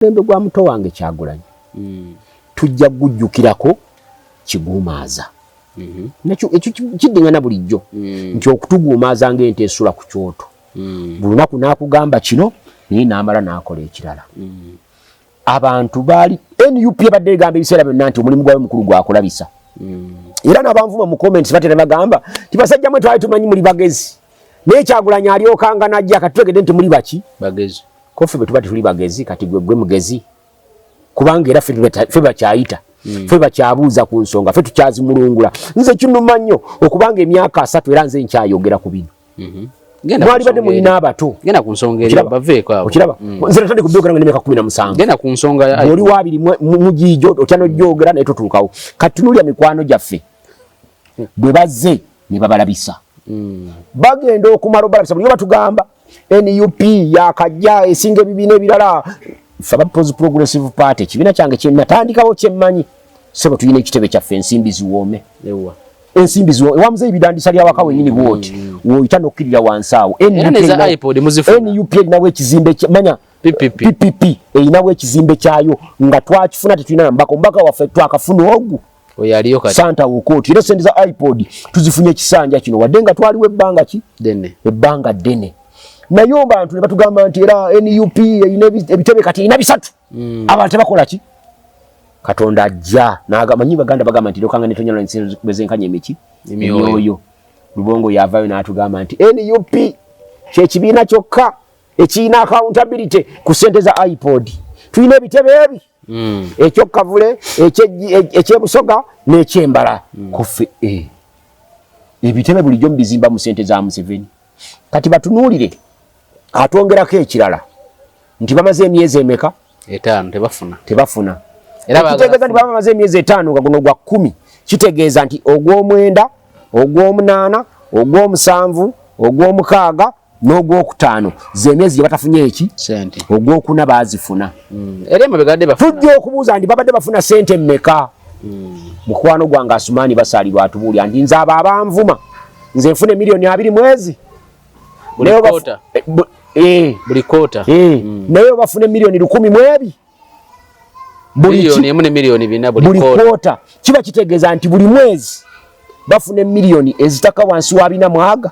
omulembe gwa muto wange kyagulanyi mm. tujja kugujjukirako kiguumaaza mm-hmm. nakyo ekyo kiddingana bulijjo mm. nti okutuguumaaza ngaente esula ku kyoto mm. buli lunaku nakugamba kino naye namala nakola ekirala abantu baali nup ebadde egamba ebiseera byonna nti omulimu gwabe mukulu gwakulabisa era nabanvuma mu comments batera bagamba nti basajja mwe twali tumanyi muli bagezi naye kyagulanyi alyokanga najja katutegedde nti muli baki bagezi kofi bwetuba tetuli bagezi kati gwe gwe mugezi kubanga era fe bakyayita hmm. fe bakyabuuza ku nsonga fe tukyazimulungula nze kinuma nnyo okubanga emyaka asatu era nze nkyayogera ku bino hmm. mwali badde mulina abato okiraba hmm. nze natandika okubyogera nga nemyaka kumi na musangaoli wabiri mugiijo otya nogyogera naye totuukawo kati tunulya mikwano gyaffe bwe bazze ne babalabisa bagenda okumala obalabisa buli obatugamba nup yakajja esinga ebibiina ebirala ffe aba peoples progressive party ekibiina kyange kyenatandikawo kyemmanyi sebo tulina ekitebe kyaffe ensimbi ziwoome ensimbi ziwo ewa muzeyi bidandisa lya waka wenyini bwoti mm. woyita nokukirira wansi awo nup erinawo ekizimbe manya ppp erinawo ekizimbe kyayo nga twakifuna tetulina nambaka omubaka waffe twakafuna ogu oyo aliyo kati santa wokoti era sente za ipod tuzifunye kisanja kino wadde nga twaliwo ebbanga ki dene ebbanga dene naye obantu ne batugamba nti era nup erina ebitebe kati erina bisatu mm. abantu tebakola ki katonda ajja manyi baganda bagamba nti lokanga netonyala bezenkanya emiki emyoyo lubongo yavayo n'atugamba nti nup kyekibiina kyokka ekirina accountability ku sente za ipod tulina ebitebe ebi mm. ekyokavule ekyebusoga e, nekyembala mm. kufe eh. ebitebe bulijjo mubizimba mu sente za museveni kati batunuulire atwongerako ekirala nti bamaze emyezi emeka etaano tebafuna tebafuna ekitegeeza nti baba bamaze emyezi etaano nga guno gwa kkumi kitegeeza nti ogw'omwenda ogw'omunaana ogw'omusanvu ogw'omukaaga n'ogwokutaano zemyezi gyebatafunye eki ogwokuna bazifuna hmm. tujja okubuuza nti babadde bafuna sente meka hmm. mukwano gwange asumani basalirwa atubuulya nti nze abo abanvuma nze nfuna emiliyoni abiri mwezi naye obafuna emiliyoni lukumi mwebi buli kota kiba kitegeeza nti buli mwezi bafuna emiliyoni ezitaka wansi wa bina mwaga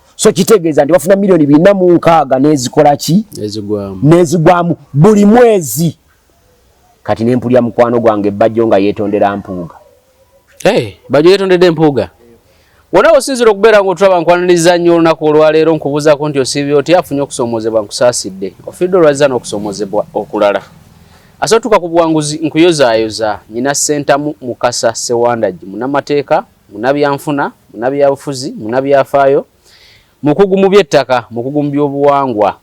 so kitegeeza nti bafuna miliyoni bina mu nkaaga n'ezikola ki n'ezigwamu buli mwezi kati ne mpulira mukwano gwange ebbajjo nga yeetondera mpuuga eh, bajjo yeetondedde empuuga wona osinzira okubeera nga otulaba nkwaniriza nnyo olunaku olwaleero nkubuuzaako nti osiibye oti afunye okusoomoozebwa nkusaasidde ofidde olwazza n'okusoomoozebwa okulala asotuka ku buwanguzi nkuyozaayoza nyina sentamu mukasa sewandagi munamateeka munabyanfuna, munabyabufuzi, munabyafaayo, mukugu mu byettaka, mukugu mu byobuwangwa.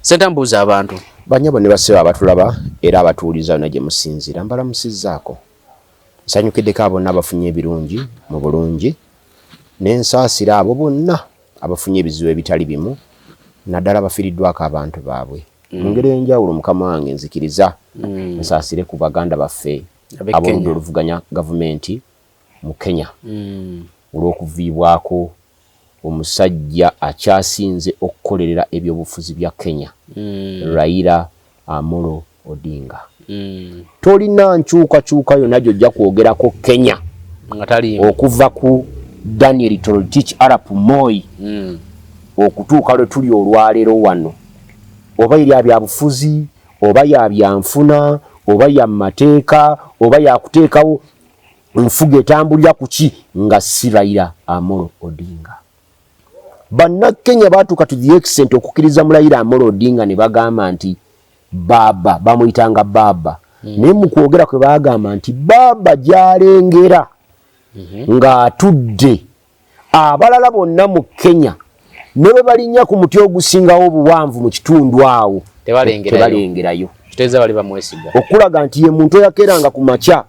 Senta mbuuza abantu. Banyabo ne basebo abatulaba era abatuuliza yona gye musinziira mbalamusizzaako. Nsanyukiddeko abo bonna abafunye ebirungi mu bulungi ne nsaasira abo bonna abafunye ebizibu ebitali bimu naddala abafiiriddwako abantu baabwe. Mm. Mu ngeri ey'enjawulo mukama wange nzikiriza mm. nsaasire ku baganda baffe ab'oludda oluvuganya gavumenti mu Kenya mm. olw'okuviibwako omusajja akyasinze okukolerera ebyobufuzi bya Kenya mm. Raila Amolo Odinga mm. tolina nkyukakyuka yonna gyojja kwogerako Kenya okuva ku Daniel Toroitich Arap Moi mm. okutuuka lwe tuli olwaleero wano oba eri abyabufuzi oba yabyanfuna oba yamateeka oba yakuteekawo enfuga etambulira kuki nga si raila amolo odinga bannakenya baatuuka to the extent okukkiriza mu raila amolo odinga ne bagamba nti baaba bamuyitanga baaba hmm. naye mu kwogera kwe baagamba nti baaba gyalengera hmm. ng'atudde abalala bonna mu kenya ne bwe balinnya ku muti ogusingawo obuwanvu mu kitundu awo tebalengerayo okulaga nti ye muntu eyakeranga ku makya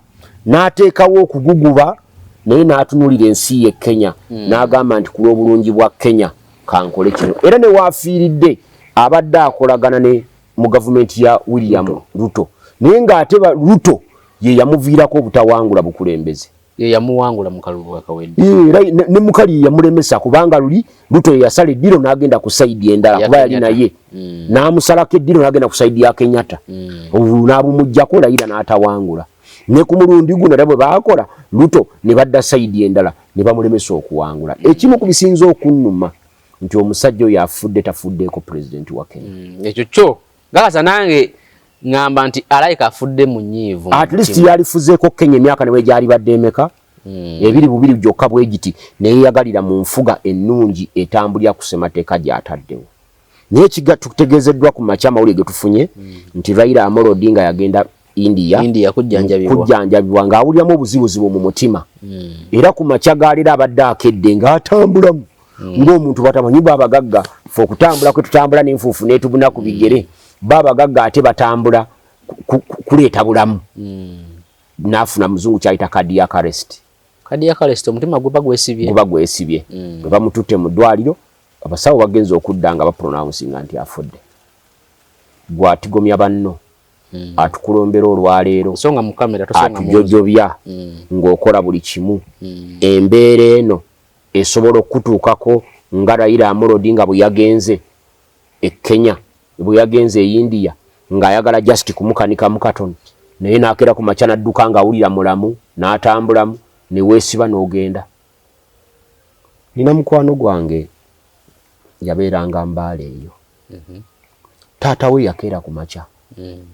n'ateekawo okuguguba naye n'atunuulira ensi ye kenya hmm. n'agamba nti ku lw'obulungi bwa kenya kankole kino era ne waafiiridde abadde akolagana ne mu gavumenti ya william ruto naye ng'ate ruto ye yamuviirako obutawangula bukulembeze yeyamuwangula mu kalulu akawedde ne mukali yamulemesa kubanga luli luto yasala eddiro n'agenda ku saidi endala kuba yali naye mm. n'amusalako eddiro n'agenda ku saidi ya kenyatta mm. obulu n'abumugyako layira n'atawangula ne ku mulundi guno era bwe baakola luto ne badda saidi endala ne bamulemesa okuwangula mm. ekimu ku bisinza okunnuma nti omusajja oyo afudde tafuddeeko pulezidenti wa kenya ekyo kyo gakaza nange ngamba nti alaika afudde mu nyiivu at least yalifuzeeko kenya emyaka newe gyali badde emeka mm. ebiri bubiri gyokka bwe giti neyeyagalira mu nfuga ennungi etambulira ku semateeka gyataddewo naye kiga tutegeezeddwa ku makya amawulire getufunye mm. nti raila amoro odinga yagenda India, India kujjanjabibwa ng'awuliramu obuzibuzibu mu mutima mm. era ku makya gaalira abadde akedde ng'atambulamu mm. ng'omuntu batamanyi ba abagagga fe okutambula kwe tutambula n'enfuufu n'etubuna ku bigere mm. ba abagagga ate batambula kuleeta bulamu mm. n'afuna muzungu kyayita cardiac arrest cardiac arrest omutima guba gwesibye guba gwesibye mm. bwe bamututte mu ddwaliro abasawo bagenze okudda nga bapronounsinga nti afudde gwatigomya banno mm. atukulombera olwaleero atujojobya mm. ng'okola buli kimu mm. embeera eno esobola okukutuukako nga rayira amulodi nga bwe yagenze e kenya bwe yagenze e india ng'ayagala just kumukanika mukatoni naye n'akeera ku makya n'adduka ng'awulira mulamu n'atambulamu ne weesiba n'ogenda nina mukwano gwange yabeeranga mbaala eyo mhm. taata we yakeera ku makya mm.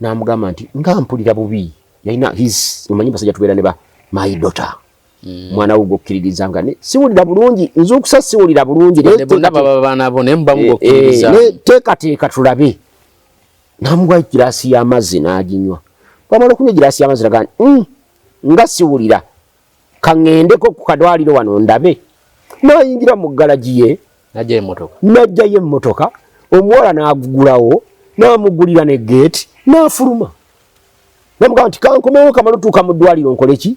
n'amugamba nti nga mpulira bubi yalina his omanyi basajja tubeera ne ba my daughter Mm. mwana wo gwokkiririza nga ne siwulira bulungi nzuukusa siwulira bulungi eh, eh, teekateeka tulabe namugwa egiraasi y'amazzi n'aginywa bwamala okunywa egiraasi y'amazzi nagaa mm, nga siwulira kaŋŋendeko ku kadwaliro wano ndabe n'ayingira mu galagi ye n'ajjayo emmotoka omuwala n'agugulawo n'amugulira ne geeti n'afuluma namugamba nti kankomewo kamala otuuka mu ddwaliro nkole ki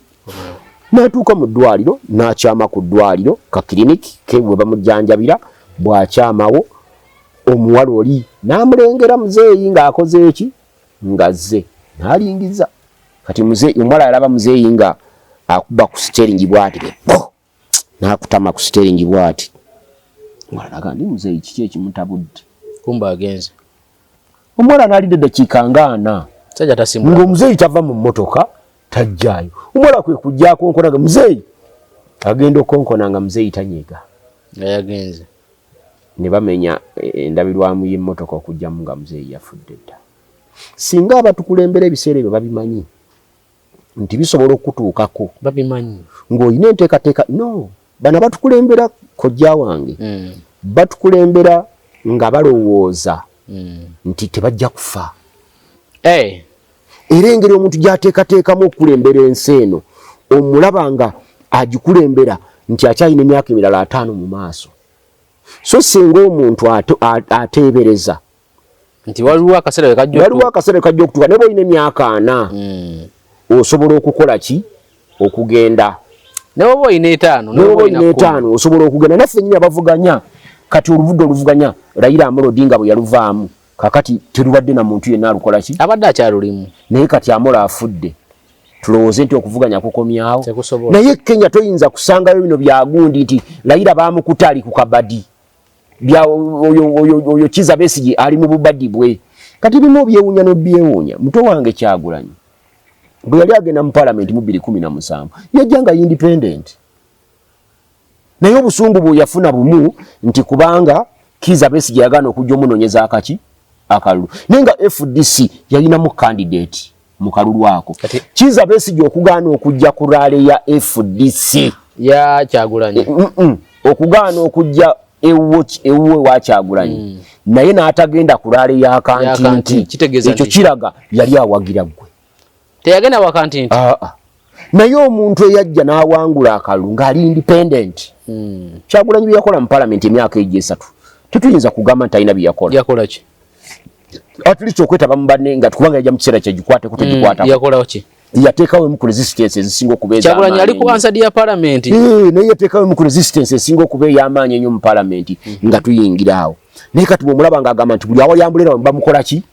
n'atuuka mu ddwaliro n'akyama ku ddwaliro ka kiriniki ke we bamujjanjabira bw'akyamawo omuwala oli n'amulengera muzeeyi ng'akoze eki ngazze nalingiza kati mzee omuwala yalaba muzeeyi nga akuba ku siteringi bwati oh! nakutama ku siteringi bwati alaga ndi muzeeyi kiki ekimutabudde kumba agenze omuwala nalidde eddakiika ngaana ngaomuzeeyi tava mu mmotoka tajjaayo omuwala kwe kujjako nkonaga muzeeyi agenda okonkona nga muzeeyi tanyega nga yagenze ne bamenya endabirwamu y'emmotoka okujjamu nga muzeeyi yafudde dda. Singa abatukulembera ebiseera ebyo babimanyi nti bisobola okukutuukako babimanyi ng'olina enteekateeka no bano abatukulembera kojja wange mm. batukulembera nga balowooza mm. nti tebajja kufa hey. Eh. era engeri omuntu gyateekateekamu okukulembera ensi eno omulaba nga agikulembera nti akyalina emyaka emirala ataano mu maaso so singa omuntu ateebereza nti waliwo akaseera waliwo akaseera kajja okutuka naye bwolina emyaka ana hmm. osobola okukola ki okugenda nawoba olina etaano nawoba olina etaano osobola okugenda naffe nyini abavuganya kati oluvudde oluvuganya layira amulodinga bwe yaluvaamu kakati terubadde na muntu yenna alukola ki abadde akyalulimu naye kati amola afudde tulowooze nti okuvuganya kukomyawo naye kenya toyinza kusangayo bino byagundi nti layira bamukuta ali ku kabadi oyo kiza besigi ali mu bubadi bwe kati bimu obyewunya nobyewunya muto wange kyagulanyi bwe yali agenda mu palamenti mu biri kumi na musanvu yajja nga independent naye obusungu bweyafuna bumu nti kubanga kiza besi gyeyagaana okujja omunonyeza akaki akalulu naye nga fdc yalinamu kandidate mu kalulu ako kiza besi gyokugaana okujja ku raale ya fdc yakyagulanyi eh, mm, mm. okugaana okujja ewuwe wakyagulanyi mm. naye n'atagenda ku raale ya kantinti ekyo kiraga yali awagira gwe teyagenda waka nti nti ah, ah. naye omuntu eyajja n'awangula akalulu ng'ali independent hmm. kyagulanyi bye yakola mu palamenti emyaka egyo esatu tetuyinza kugamba nti alina bye yakola yakola ki at least okwetaba mu banne nga kubanga yajja mu kiseera kyegikwateko hmm, tegikwatako yakola ki yateekawo emu ku resistance ezisinga okuba ezakyagulanyi ali ku ansadi ya palamenti eh, naye yateekawo emu ku resistance esinga okuba ey'amaanyi ennyo mu palamenti hmm. nga tuyingira awo naye kati bwomulaba ng'agamba nti buli awali ambulera bamukola ki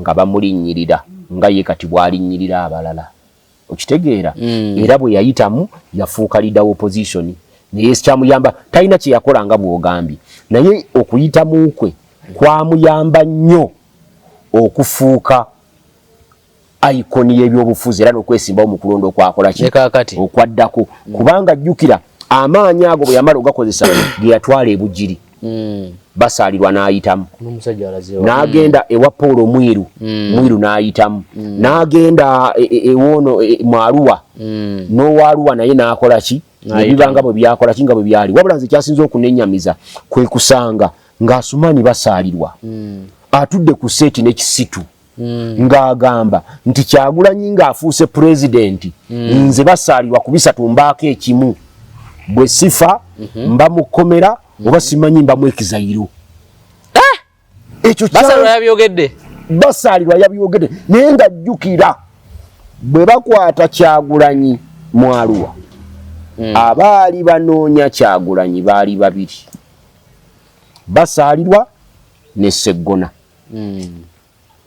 nga bamulinnyirira nga ye kati bw'alinnyirira abalala okitegeera mm. era bwe yayitamu yafuuka lida opposition naye kyamuyamba talina kye yakola nga bw'ogambye naye okuyitamu kwe kwamuyamba nnyo okufuuka icon y'ebyobufuzi era n'okwesimbawo mu kulonda okwakola ki okwaddako mm. kubanga jjukira amaanyi ago bwe yamala ogakozesa ge yatwala ebugiri mm. basaalirwa n'ayitamu n'agenda ewa paul omwiru mm. mwiru n'ayitamu mm. n'agenda e, e, ewoono e, mu aluwa mm. n'owa aluwa naye n'akola ki nebibanga bwe byakola ki nga bwe byali wabula nze kyasinza okunenyamiza kwe kusanga ng'asumaani basaalirwa mm. atudde ku seeti n'ekisitu mm. ng'agamba nti kyagulanyi ng'afuuse pulezidenti mm. nze basaalirwa ku bisatu mbaako ekimu bwe sifa mm -hmm. mba mu kkomera mm -hmm. oba simanyi mba mu ekizayiro eh! ekyo basaalirwa yabyogedde basaalirwa yabyogedde naye nga jjukira bwe bakwata kyagulanyi mwaluwa mm. abaali banoonya kyagulanyi baali babiri basaalirwa ne seggona mm.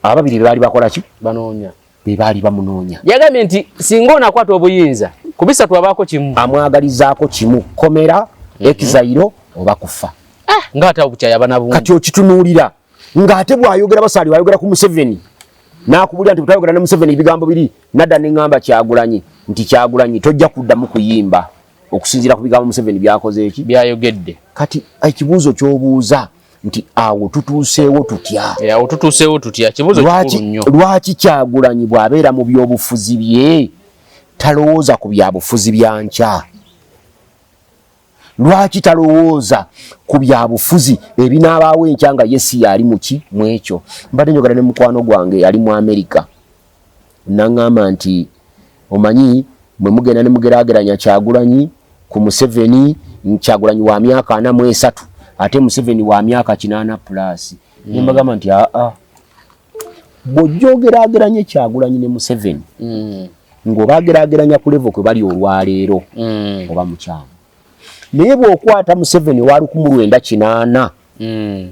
ababiri bebaali bakola ki banoonya bebaali bamunoonya yagambye nti singa onakwata obuyinza kubisatu abaako kimu amwagalizaako kimu komera mm -hmm. ekizayiro oba kufa ah, nga ate obukyaya bana bungi kati okitunuulira nga ate bwayogera basaali wayogera ku museveni nakubulira nti butayogera ne museveni ebigambo biri nadda ne ŋŋamba kyagulanyi nti kyagulanyi tojja kuddamu kuyimba okusinziira ku bigambo Museveni byakoze eki byayogedde. Kati ekibuuzo ky'obuuza nti awo tutuuseewo tutya? Eh, awo tutuuseewo tutya? Kibuuzo kikulu nnyo. Lwaki Kyagulanyi bw'abeera mu byobufuzi bye talowooza ku byabufuzi bya nkya? Lwaki talowooza ku byabufuzi ebinaabaawo enkya nga ye si yali muki mw'ekyo? Mbadde njogera ne mukwano gwange yali mu Amerika. nangamba nti omanyi mwe mugenda ne mugerageranya kyagulanyi ku museveni kyagulanyi wa myaka ana mu esatu ate museveni wa myaka kinaana pulaasi mm. nembagamba nti aa bwojja ogerageranya ekyagulanyi ne museveni mm. ngaoba agerageranya ku levo kwe bali olwaleero mm. oba mukyamu naye bwokwata museveni walukumulwenda kinaana mm.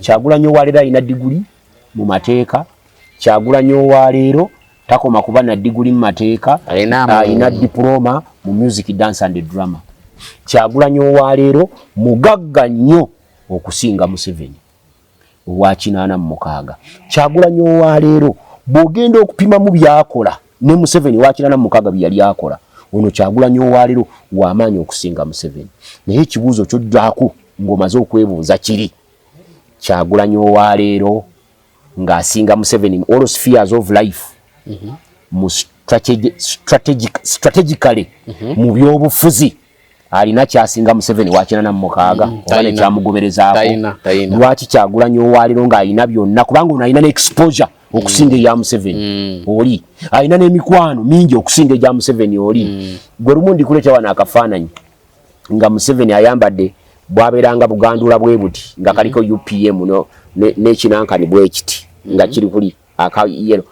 Kyagulanyi owa leero alina diguli mu mateeka. Kyagulanyi owa leero takoma kuba na diguli mu mateeka, alina diploma mu music, dance and drama. Kyagulanyi owa leero mugagga nnyo okusinga Museveni owa kinaana mu mukaaga. Kyagulanyi owa leero bw'ogenda okupimamu byakola ne Museveni owa kinaana mu mukaaga bye yali akola, ono Kyagulanyi owa leero wa maanyi okusinga Museveni. Naye ekibuuzo ky'oddako ng'omaze okwebuuza kiri kyagulanyi owaleero ng'asinga museveni all spheres of life mhm. mu strategically mhm. mu byobufuzi alina kyasinga museveni wakinana mumukaaga mhm. oba nekyamugoberezaako lwaki kyagulanyi owaleero ng'alina byonna kubanga ono alina neexposure okusinga eya museveni mm. oli alina n'emikwano mingi okusinga egya museveni oli mm. gwe lumu ndikuleeta wano akafaananyi nga museveni ayambadde bwabeeranga bugandula bwe buti nga kaliko mm-hmm. upm no nekinankani bwekiti nga mm-hmm. kiri kuli akayero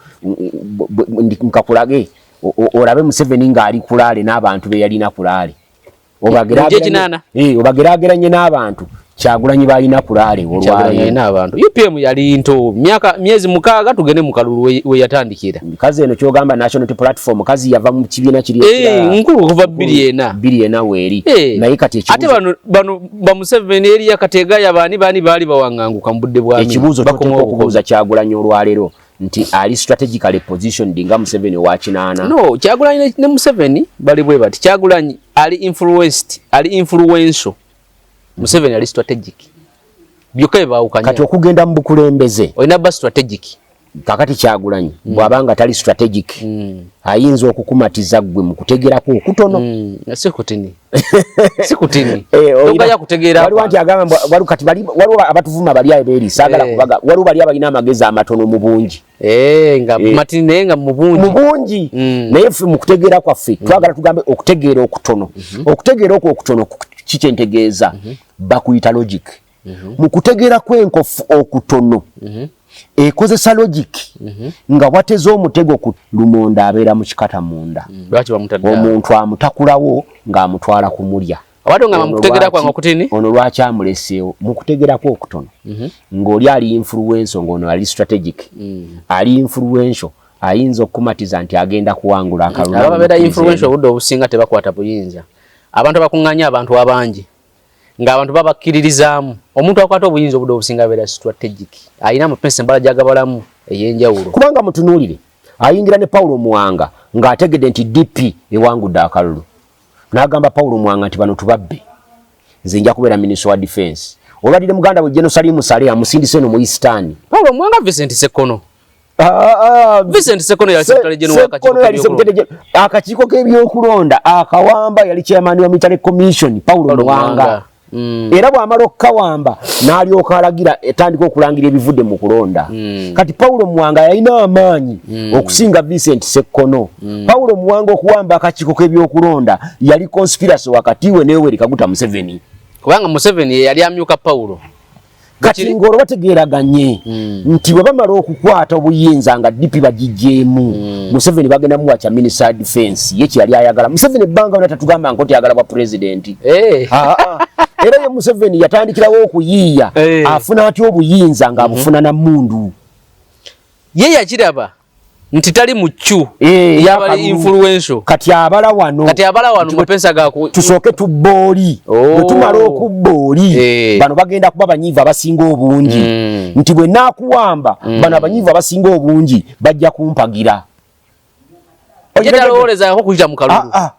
nkakulage olabe museveni ngaali kulaale n'abantu beyalina kulaale obagerageranye eh, n'abantu kyagulanyi balina kulaale olwalina abantu upm yali nto myaka myezi mukaaga tugende mu kalulu we yatandikira kazi eno kyogamba national platform kazi yava mu kibiina kiri hey, eh, nkulu kuva biri ena biri ena weeri hey. Eh, naye kati ekibuzo ate bano bano ba museveni eri yakatega yabani bani bali bawanganguka mu budde bwami ekibuzo bakoma okubuza kyagulanyi olwalero nti ali strategically positioned nga museveni owa kinaana no kyagulanyi ne museveni bali bwe bati kyagulanyi ali influenced ali influential Museveni ali strategic byokka bye baawukanya kati okugenda mu bukulembeze olina ba strategic kakati kyagulanyi mm. bwaba nga tali strategic mm. ayinza okukumatiza gwe mu kutegerako okutono mm. sikutini sikutini tokaya eh, kutegeera waliwo nti agamba waliwo kati waliwo abatuvuma bali ayo beeri saagala eh. kubaga waliwo bali abalina amagezi amatono mu bungi Eh, nga eh. matini naye nga mubungi mubungi mm. naye ffe mu kutegeera kwaffe mm. twagala tugambe okutegeera okutono mm -hmm. okutegeera okwo okutono kikyentegeeza mm -hmm. bakuyita logic mm -hmm. mu kutegeera kwenkofu okutono mm -hmm. ekozesa logic mm -hmm. nga wateza omutego ku lumonda abeera mu kikata munda mm. omuntu amutakulawo ng'amutwala kumulya Abadde ngamba mukutegera kwange okutini. Ono lwaki amuleseewo mukutegera kwa okutono. Mm -hmm. Ng'oli ali influential ng'ono ali strategic. Mm. Ali influential ayinza okumatiza nti agenda kuwangula mm. akalulu. Aba bera influential budde obusinga tebakwata buyinza. Abantu bakunganya abantu abangi. Nga abantu babakiririzaamu. Omuntu akwata obuyinza budde obusinga bera strategic. Ayina mu pesa mbala jagabalamu eyenjawulo. Kubanga mutunulire. Ayingira ne Paulo Muwanga ng'ategedde nti DP ewangudde akalulu. N'agamba Paulo Mwanga nti bano tubabbe, nze nja kubeera minisita wa difensi. Olwadire muganda we Jeno Salimu Sale amusindise eno mu Isitaani. Paulo Mwanga Vincent Sekono. Ah, ah, ah. Vincent Sekono yali sekitale jeno wakakiiko. Akakiiko k'ebyokulonda akawamba yali chairman wa Mitale Commission Paulo Mwanga. Mwanga. Mm. era bwamala okukawamba n'alyoka alagira etandika okulangira ebivudde mu kulonda mm. kati pawulo muwanga yalina amaanyi mm. okusinga vincent sekkono mm. pawulo muwanga okuwamba akakiiko k'ebyokulonda yali conspiracy wakati we neyoweri kaguta museveni kubanga museveni yeyali amyuka pawulo kati ng'olwo bategeeraganye hmm. nti bwe bamala okukwata obuyinza nga dipi bagigyemu hmm. museveni bagenda muwa kya minisa defense ye kyeyali ayagala museveni ebbanga ona tatugamba nko tyagala bwa pulezidenti eh. ah, ah. era ye museveni yatandikirawo okuyiiya eh. afuna atya obuyinza ng'abufuna hmm. na mundu ye yakiraba nti tali muccu eh, yabali influential kati abala wano kati abala wano mapensa gaku tusooke tubbooli oh. tumala okubbooli eh. bano bagenda kuba banyiivu abasinga obungi mm. nti bwe naakuwamba mm. bano abanyiivu abasinga obungi bajja kumpagira ojetalowolezako kuyita mu kalulu ah, ah.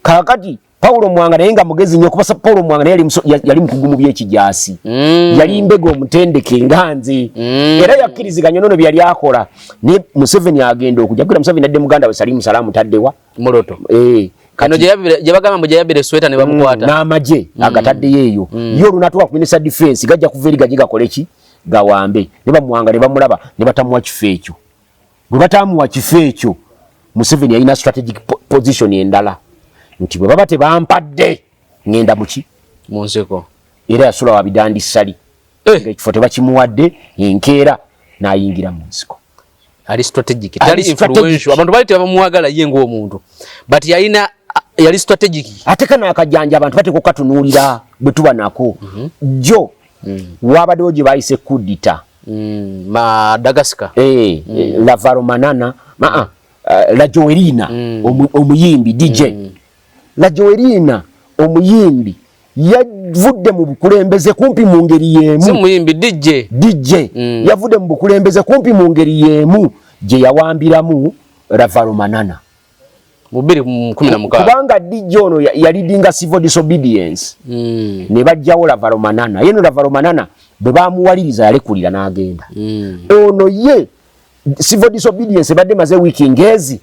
kakati Paulo Mwanga naye nga mugezi nyo kubasa Paulo Mwanga naye yali mkugu mu byekijasi mm. yali mbego mutendeke nganzi mm. era yakiriziga nyo nono byali akola ne Museveni agenda okuja kula Museveni adde muganda we Salimu Salamu tadewa muloto eh kano je yabire je bagamba muje yabire sweta ne bamukwata mm. na maje mm. agatadde yeyo mm. yo lunatwa ku minister defense gaja kuveri gajiga koleki gawambe ne bamwanga ne bamulaba ne batamwa kifecho bwe bataamuwa kifo ekyo museveni yalina strategic position endala nti bwe baba tebampadde ngenda muki munseko era yasula wabidandi sali eh. ekifo tebakimuwadde enkeera nayingira mu nsiko ali strategic tali influential abantu bali tebamuwagala ye ng'omuntu but yalina yali strategic ate kana akajanja abantu bateko katunuulira bwe tuba nako mhm. jjo mm. wabadewo gye bayise kudita mm, Madagascar eh, mm. Eh, Lavaro Manana ma uh, eh, La Joelina mm. omuyimbi DJ mm. La Joelina omuyimbi yavudde mu bukulembeze kumpi mu ngeri yemu si muyimbi DJ DJ mm. yavudde mu bukulembeze kumpi mu ngeri yemu gye yawambiramu Lavaro Manana mu bbiri mu kumi na mukaaga kubanga dijja ono yalidinga civil disobedience mm. ne bajjawo lavaromanana ye no lavaromanana bwe bamuwaliriza yalekulira n'agenda mm. ono ye civil disobedience ebadde maze wiiki ngezi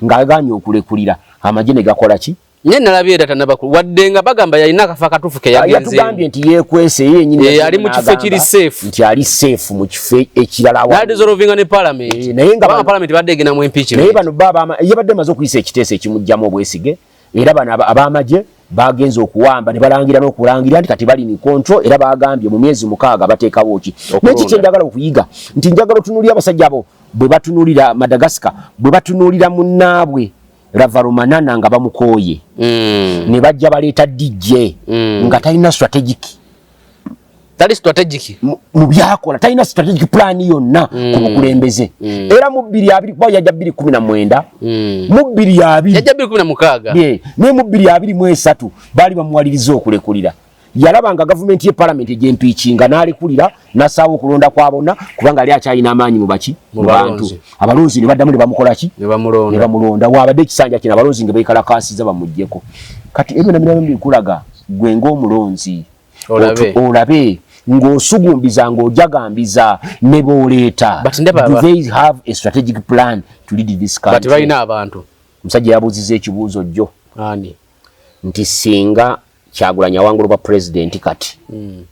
ng'agaanye okulekulira amagye ne gakola ki Nye nalabye data nabaku wadde nga bagamba yalina akafa katufu ke yagenze. Yatugambye nti yekwese yeye nyinyi. Eh ali mu kifo kiri safe. Nti ali safe mu kifo ekirala wa. That is all vinga ne parliament. E, naye nga ba parliament badde gina mu impeachment. Naye bano baba ama yabadde mazo kuyisa ekitese ekimujjamo obwesige era bano abamaje bagenze okuwamba ne balangira n'okulangira nti kati bali ni control era bagambye mu myezi mukaaga bateekawo ki. Naye kiki njagala okuyiga nti njagala otunulira abasajja abo bwe batunulira Madagascar bwe batunulira munnaabwe. ravarumanana nga bamukooye mm. ne bajja baleeta dj mm. nga talina strategic tali strategic mu byakola talina strategic plan yonna mm. ku bukulembeze mm. era mu bbiri abiri kuba yajja bbiri kumi na mwenda mm. mu bbiri abiri yajja bbiri kumi na mukaaga naye mu bbiri abiri mu esatu baali bamuwaliriza okulekulira yalaba nga gavumenti ye palamenti egyempiikinga n'alekulira n'assaawo okulonda kwa bonna kubanga yali akyalina amaanyi mu baki mu bantu abalonzi ne baddamu ne bamukola ki ne bamulonda waabadde ekisanja kino abalonzi nga beekalakaasiza bamugyeko kati ebyo namirabo bikulaga gwe ng'omulonzi olabe ng'osugumbiza ng'ojagambiza ne booleeta omusajja yabuuziza ekibuuzo jjo nti singa Kyagulanyi awangula obwa president kati mm.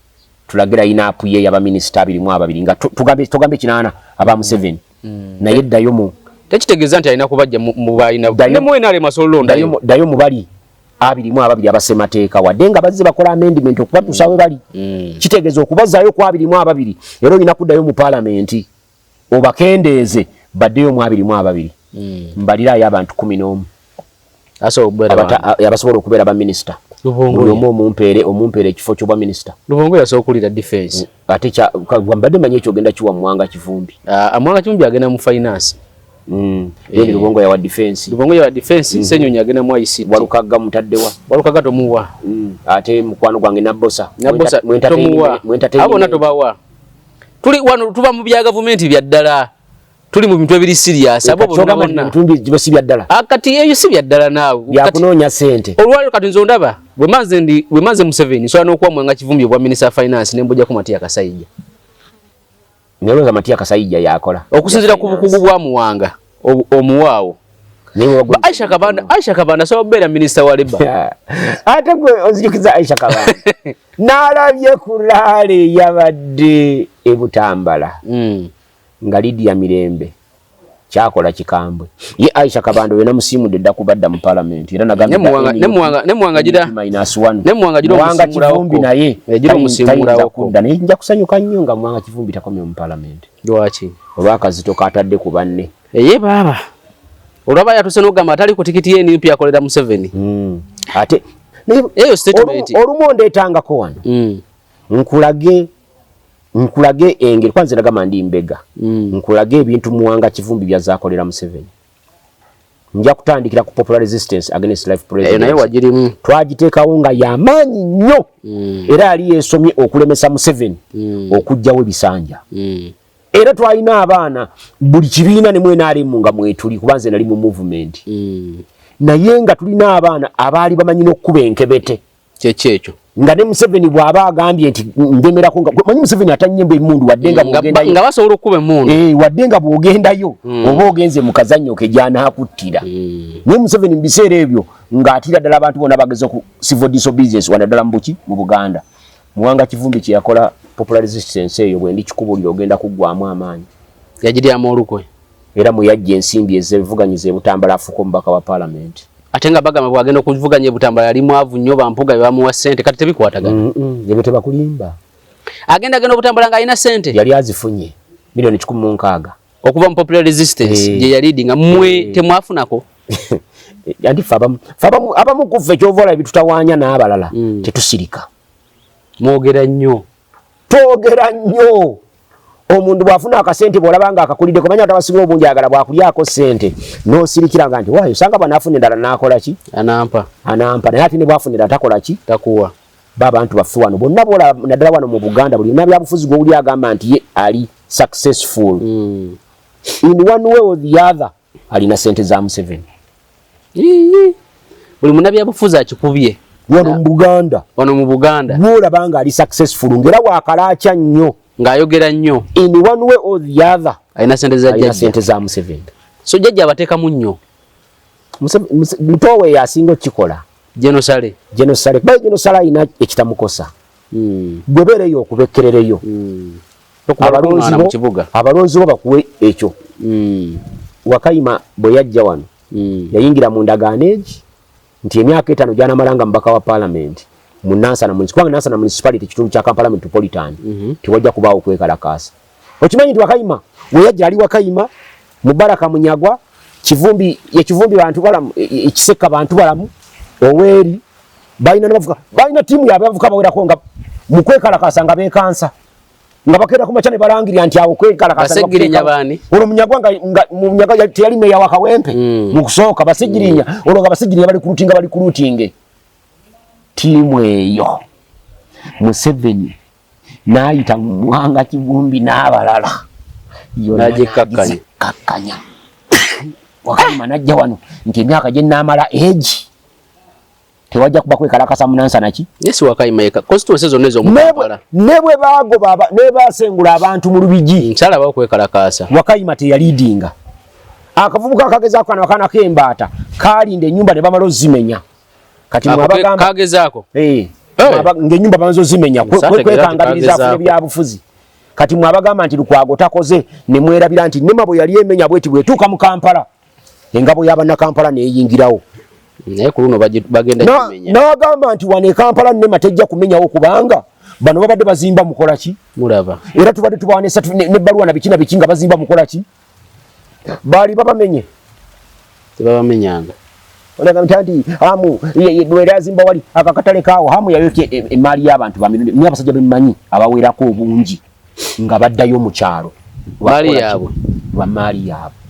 tulagira inapu ye yaba minister abiri mu ababiri nga tugambe tugambe kinana aba Museveni mm. naye ddayo mu tekitegeeza nti alina kubajja mu balina ne mu enale masolo ndayo dayo mu bali abiri mu ababiri abasemateeka wadde nga bazze bakola amendment okubatuusa we bali mm. kitegeeza okubazaayo ku abiri mu ababiri era olina kuddayo mu palamenti obakendeeze baddeyo mu abiri mu ababiri hmm. mbaliraayo abantu kumi n'omu abasobola okubeera baminisita buli omu omumpeere omumpeere ekifo kyobwa minisita lubongo yasobola okuwulira defense mm, ate mbadde manyi ekyogenda kiwa mwanga kivumbi ah, mwanga kivumbi agenda mu finance mm, eh. lubongo yawa defense lubongo yawa defense mm. senyonyi agenda mu ict walukagga mutaddewa walukagga tomuwa ate mukwano gwange nabosa mwentatomuwa abona tobawa tuli wano tuba mu bya gavumenti bya ddala tuli mu bintu ebiri serious abo bonna bonna tumbi jiba si bya ddala akati ah, yeyo si bya ddala naawe ya kunonya sente olwali kati nzo ndaba we maze ndi we maze museveni so anokuwa mwanga kivumbi obwa minister of finance ne mbuja ku matia kasayija nero za matia kasayija yakola okusinzira ku bukugu bwa muwanga omuwaawo Aisha Kabanda Aisha Kabanda so bera minister wa leba ate gwe ozijukiza Aisha Kabanda nalabye kulale yabadde ebutambala mm. nga Lydia Mirembe kyakola kikambwe ye Aisha Kabanda wena musimu de da kubadda mu parliament era nagambye ne muwanga ne muwanga ne muwanga jira minus 1 ne muwanga jira muwanga kivumbi naye jira musimu rawo kunda ne nja kusanyuka nnyo nga muwanga kivumbi takomye mu parliament Lwaki? Olw'akazito k'atadde ku banne. Eye baaba olwaba yatuse n'ogamba atali ku tikiti y'enup akolera Museveni hmm. ate eyo statement olumu ondeetangako wano hmm. nkulage nkulage engeri kwanze nagamba ndi mbega hmm. nkulage ebintu muwanga kivumbi byazaakolera Museveni nja kutandikira ku popular resistance against life president eh, naye wagirimu twagiteekawo nga yamaanyi nnyo mm. era yali yesomye okulemesa museveni mm. okugjawo ebisanja mm. era twalina abaana buli kibiina nemwenaremu nga mwetuli kuba nze nali mu movement mm. naye nga tulina abaana abaali bamanyi nokukuba enkebete kyekyo ekyo nga ne Museveni bw'aba agambye nti ndemerako nga manyi Museveni atanyemba emundu wadde nga bwogendayo nga basobola okuba emundu eh wadde nga bwogendayo mm. oba ogenze mu kazannyo ke gyanakuttira mm. naye Museveni mu biseera ebyo ng'atira ddala abantu bona bageza ku civil disobedience wano ddala mu buki mu Buganda Muwanga Kivumbi kye yakola popular resistance eyo bwe ndi kikubulira ogenda kuggwamu amaanyi yagiryamu olukwe era mwe yajja ensimbi ezebivuganyiza e Butambala afuuka omubaka wa palamenti. Ate nga bagamba bwagenda okuvuganya e Butambala yali mwavu nnyo Bampuuga bye bamuwa ssente kati tebikwatagana. Ebyo tebakulimba. Agenda agenda Obutambala ng'alina ssente. Yali azifunye milioni kikumi mu nkaaga. Okuva mu popular resistance eh. gye yaliidinga mwe eh. temwafunako. Anti ffe abamu ffe abamu abamu ku ffe ky'ova olaba bitutawaanya n'abalala hmm. tetusirika. Mwogera nnyo. twogera nnyo omuntu bwafuna akasente bwolaba nga akakulidde kumanya tabasinga obungi agala bwakulyako sente nosirikira nga nti wayo osanga bwanafuna endala nakola ki anampa anampa naye ate nebwafunira takola ki takuwa babantu baffe wano bonna bola naddala wano mu buganda buli yona byabufuzi gwowuli agamba nti ye ali successful mm. in one way or the other alina sente za museveni buli munabyabufuzi akikubye wano mu buganda wano mu buganda bwolaba nga ali successful ngaera wakalakya nnyo ng'ayogera nnyo in one way or the other alina sente za jajja sente za museveni so jajja abateekamu nnyo mutowe yasinga okikola genosale genosale kuba genosale alina ekitamukosa hmm. gwebeereyo okubekkerereyo hmm. abalonzi bo bakuwe ekyo hmm. wakayima bwe yajja wano hmm. yayingira mu ndagaano egi nti emyaka etaano gyanamala nga mubaka wa palamenti mu nansana kubanga nansana municipality kitundu kya kampala metropolitan mhm. tewajja kubaawo kwekalakaasa okimanyi nti wakayima we yajja ali wakayima mubaraka munyagwa kivumbi yekivumbi bantu balamu e, e, ekiseka bantu balamu oweeri balina nabavuka balina tiimu yabavuka bawerako nga mukwekalakasa nga bekansa nga bakera kumacha ne balangira nti awo kwekala kasa basegirinya bani olo munyagwa nga, nga munyaga ya tiyali meya wa kawempe mm. mukusoka basegirinya mm. olo nga basegirinya bali kulutinga bali kulutinge timu eyo museveni nayita mwanga kivumbi nabalala najekakanya kakanya wakati manajja wano nti emyaka gye namala age tewajja kuba kwekalakasa munansana ki yes wakayima yeka constituency zonna ezo mukampala ne bwe baago baba ne basengula abantu mu lubigi nsala ba kwekalakasa wakayima te yalidinga akavubuka akageza akana akana kembaata kalinde nyumba ne bamalo zimenya kati mwabagamba kageza ako eh nge nyumba banzo zimenya kwekangabiriza kwe, kwe, bya bufuzi kati mwabagamba nti lukwago takoze ne mwerabira nti nema bwe yali emenya bweti bwetuka mu kampala engabo ya bannakampala neyingirawo naye ku luno bagenda kimenya n'agamba nti wano ekampala nema tejja kumenyawo kubanga bano babadde bazimba mukola ki mulaba era tubadde tubawa nebbaluwa na biki na biki nga bazimba mukola ki baali babamenye tebabamenyanga olaga ntanti amu lwera azimba wali akakatale kaawo hamu yayokya e, e, emmaali y'abantu bamirundi naye abasajja bemumanyi abawerako obungi nga baddayo mu kyalo lwamaali yaabwe lwamaali yaabwe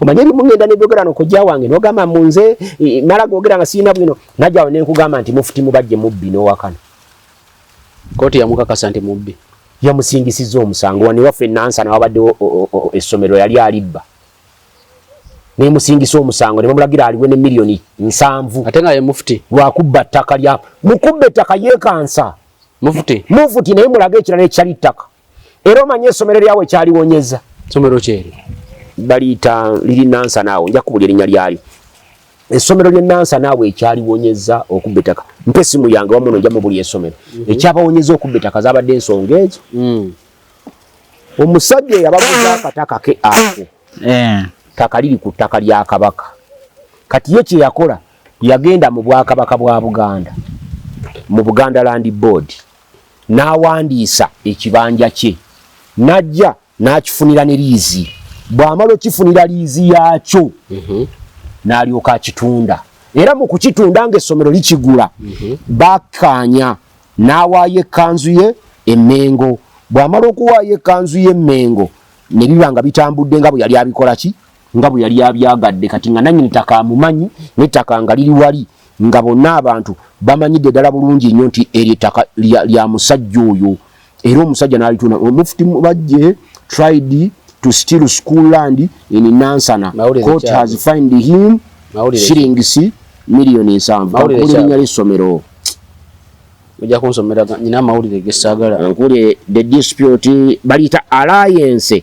omanye ebimu ngenda nebyogera nokojja wange nogamba mu nze mala gogera nga sirina bwino najjawo nenkugamba nti mufuti mubajje mubbi nowakana koti yamukakasa nti mubbi yamusingisiza omusango waniwaffe nansa nawabaddewo essomero yali alibba nemusingisa omusango nebamulagira aliwe ne miliyoni nsanvu ate nga ye mufuti lwakubba ttaka lya mukubba ettaka yekansa mufute mufute naye mulaga ekirala ekyali ettaka era omanye esomero lyawe kyaliwonyeza somero kyeri baliyita liri nansa naawe nja kubuli erinnya lyalyo esomero lye nansa naawe ekyaliwonyeza okubba ettaka mpa esimu yange wamuno nja mubuli esomero mhm. ekyabawonyeza okubba ettaka zabadde ensonga ezo mm. omusajja eyabaguza akataka ke ako eh. taka liri ku ttaka lya kabaka kati ye kyeyakola Yagenda mu Bwakabaka bwa Buganda mu Buganda Land Board n'awandiisa ekibanja kye n'ajja n'akifunira ne liizi bw'amala okifunira liizi yaakyo mhm. n'alyoka akitunda era mu kukitunda ng'essomero likigula mhm. bakkaanya n'awaayo ekkanzu ye emmengo bw'amala okuwaayo ekkanzu ye emmengo ne biba nga bitambudde nga bwe yali abikola ki nga bwe yali abyagadde kati nga nannyini ttaka amumanyi n'ettaka nga liri wali nga bonna abantu bamanyidde ddala bulungi nnyo nti eryo ettaka lya musajja oyo era omusajja n'alituna omufuti mubajje tried to steal school land in nansana court has find him shillings million ensanvu kakulinya ly'essomero ojja kunsomera nyina amawulire gesaagala nkuli the dispute baliyita alliance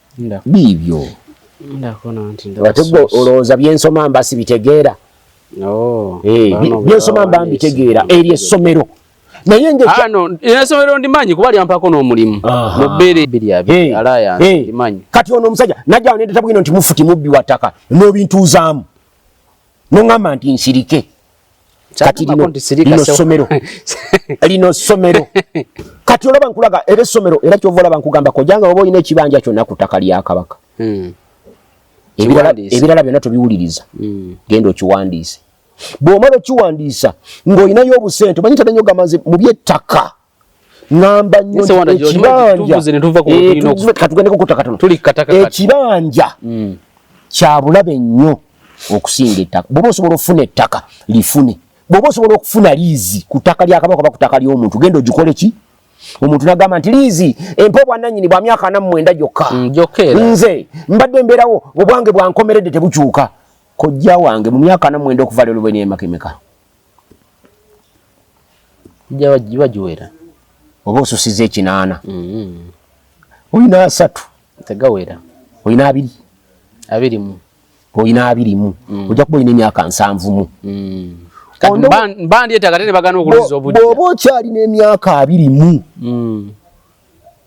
biibyo ate gwe olowooza byensoma mba sibitegeera oh, eh, byensoma mba mbitegeera eryo essomero naye ah, esomero ndimanyi kuba lyampako n'omulimu mubeere kati ono omusajja najja nendeta bwino nti mufuti mubbi wa ttaka n'obintuuzaamu nongamba nti nsirike kati lino somero lino somero kati olaba nkulaga era esomero era kyova olaba nkugamba kojanga oba olina ekibanja kyonna ku ttaka lya kabaka hmm. ebirala byonna tobiwuliriza hmm. genda okiwandiise bwomala okiwandiisa ng'olinayo obusente omanyi tadanyo ogamba nze mu byettaka ngamba nyo ekibanja mm. kyabulabe nnyo okusinga ettaka bwoba osobola okufuna ettaka lifune bwoba osobola okufuna liizi ku ttaka lya kabaka oba ku ttaka ly'omuntu genda ogikole ki omuntu nagamba nti liizi empa obwananyini bwa myaka ana mumwenda gyokka mm, nze mbadde mbeerawo obwange bwankomeredde tebukyuka kojja wange mu myaka ana mumwenda okuva lero bweneemakemeka giba giwera oba osusiza ekinaana mm-hmm. olina asatu tegawera olina abiri abirimu olina abirimu mm. ojja kuba olina emyaka nsanvumu mm. bandyetaaga te ne bagana okuluza obudde bwoba okyalina emyaka abirimu mm.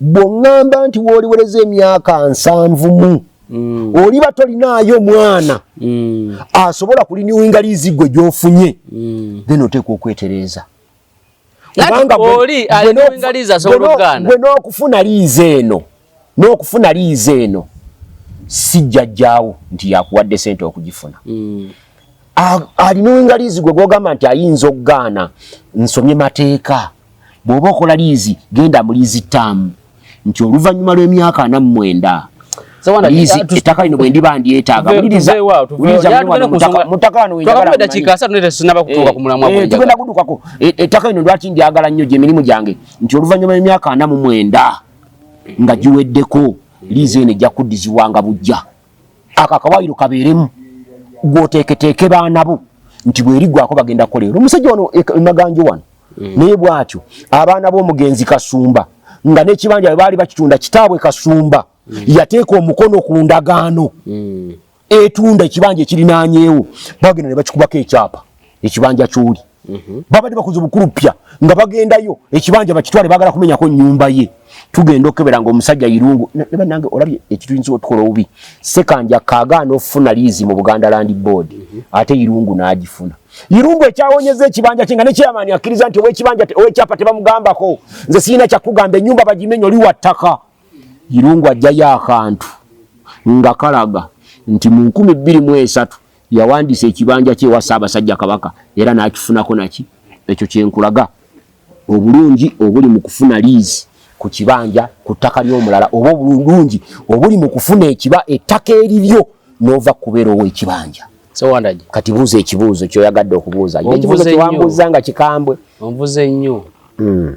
bwongamba nti woliwereza emyaka nsanvu mu mm. oliba tolinaayo mwana mm. asobola kuliniwinga liizi gwe gyofunye mm. then oteekwa okwetereeza gwe n'okufuna liizi eno n'okufuna liizi eno sijjajjaawo nti yakuwadde sente okugifuna mm. aliniwinga liizi gwe gwogamba nti ayinza okugaana nsomye mateeka bw'oba okola liizi genda mu liizi ttaamu nti oluvannyuma lw'emyaka ana mu mwenda ettaka lino bwe ndiba ndyetaaga tugenda kudukako ettaka lino lwaki ndyagala nnyo gye mirimu gyange nti oluvannyuma lw'emyaka ana mu mwenda nga giweddeko liizi eno ejja kuddizibwanga bujja ako akawaayiro kabeeremu gwoteeketeeke baana bo nti bwerigwako bagenda kukola ero omusajja wano e, e maganjo wano mm. naye bwatyo abaana b'omugenzi kasumba nga n'ekibanja bwe baali bakitunda kitaabwe kasumba mm. yateeka omukono ku ndagaano mm. etunda ekibanja ekirinaanyeewo bagenda ne bakikubako ekyapa ekibanja kyoli mhm. babadde bakoze obukulupya nga bagendayo ekibanja bakitwale bagala kumenyako nyumba ye tugenda okukebera nga omusajja irungu nebanange olabye ekituyinza otukola obubi sekanja kagaana ofuna liizi mu buganda land board mhm. ate irungu n'agifuna irungu ekyawonyeza ekibanja kye nga nekyeyamaani akkiriza nti owekibanja owekyapa tebamugambako nze sirina kyakugamba enyumba bagimenyo liwa ttaka irungu ajjayo akantu nga kalaga nti mu nkumi bbiri mu esatu Yawandiisa ekibanja kye ewa Ssaabasajja Kabaka era n'akifunako naki ekyo kye nkulaga obulungi obuli mu kufuna liizi ku kibanja ku ttaka ly'omulala oba obulungi obuli mu kufuna ekiba ettaka eriryo n'ova kubeera ow'ekibanja. Sewandagi. Kati buuza ekibuuzo kyoyagadde okubuuza. Ekibuuzo kyewambuuzza nga kikambwe. Onvuze nnyo. Hmm.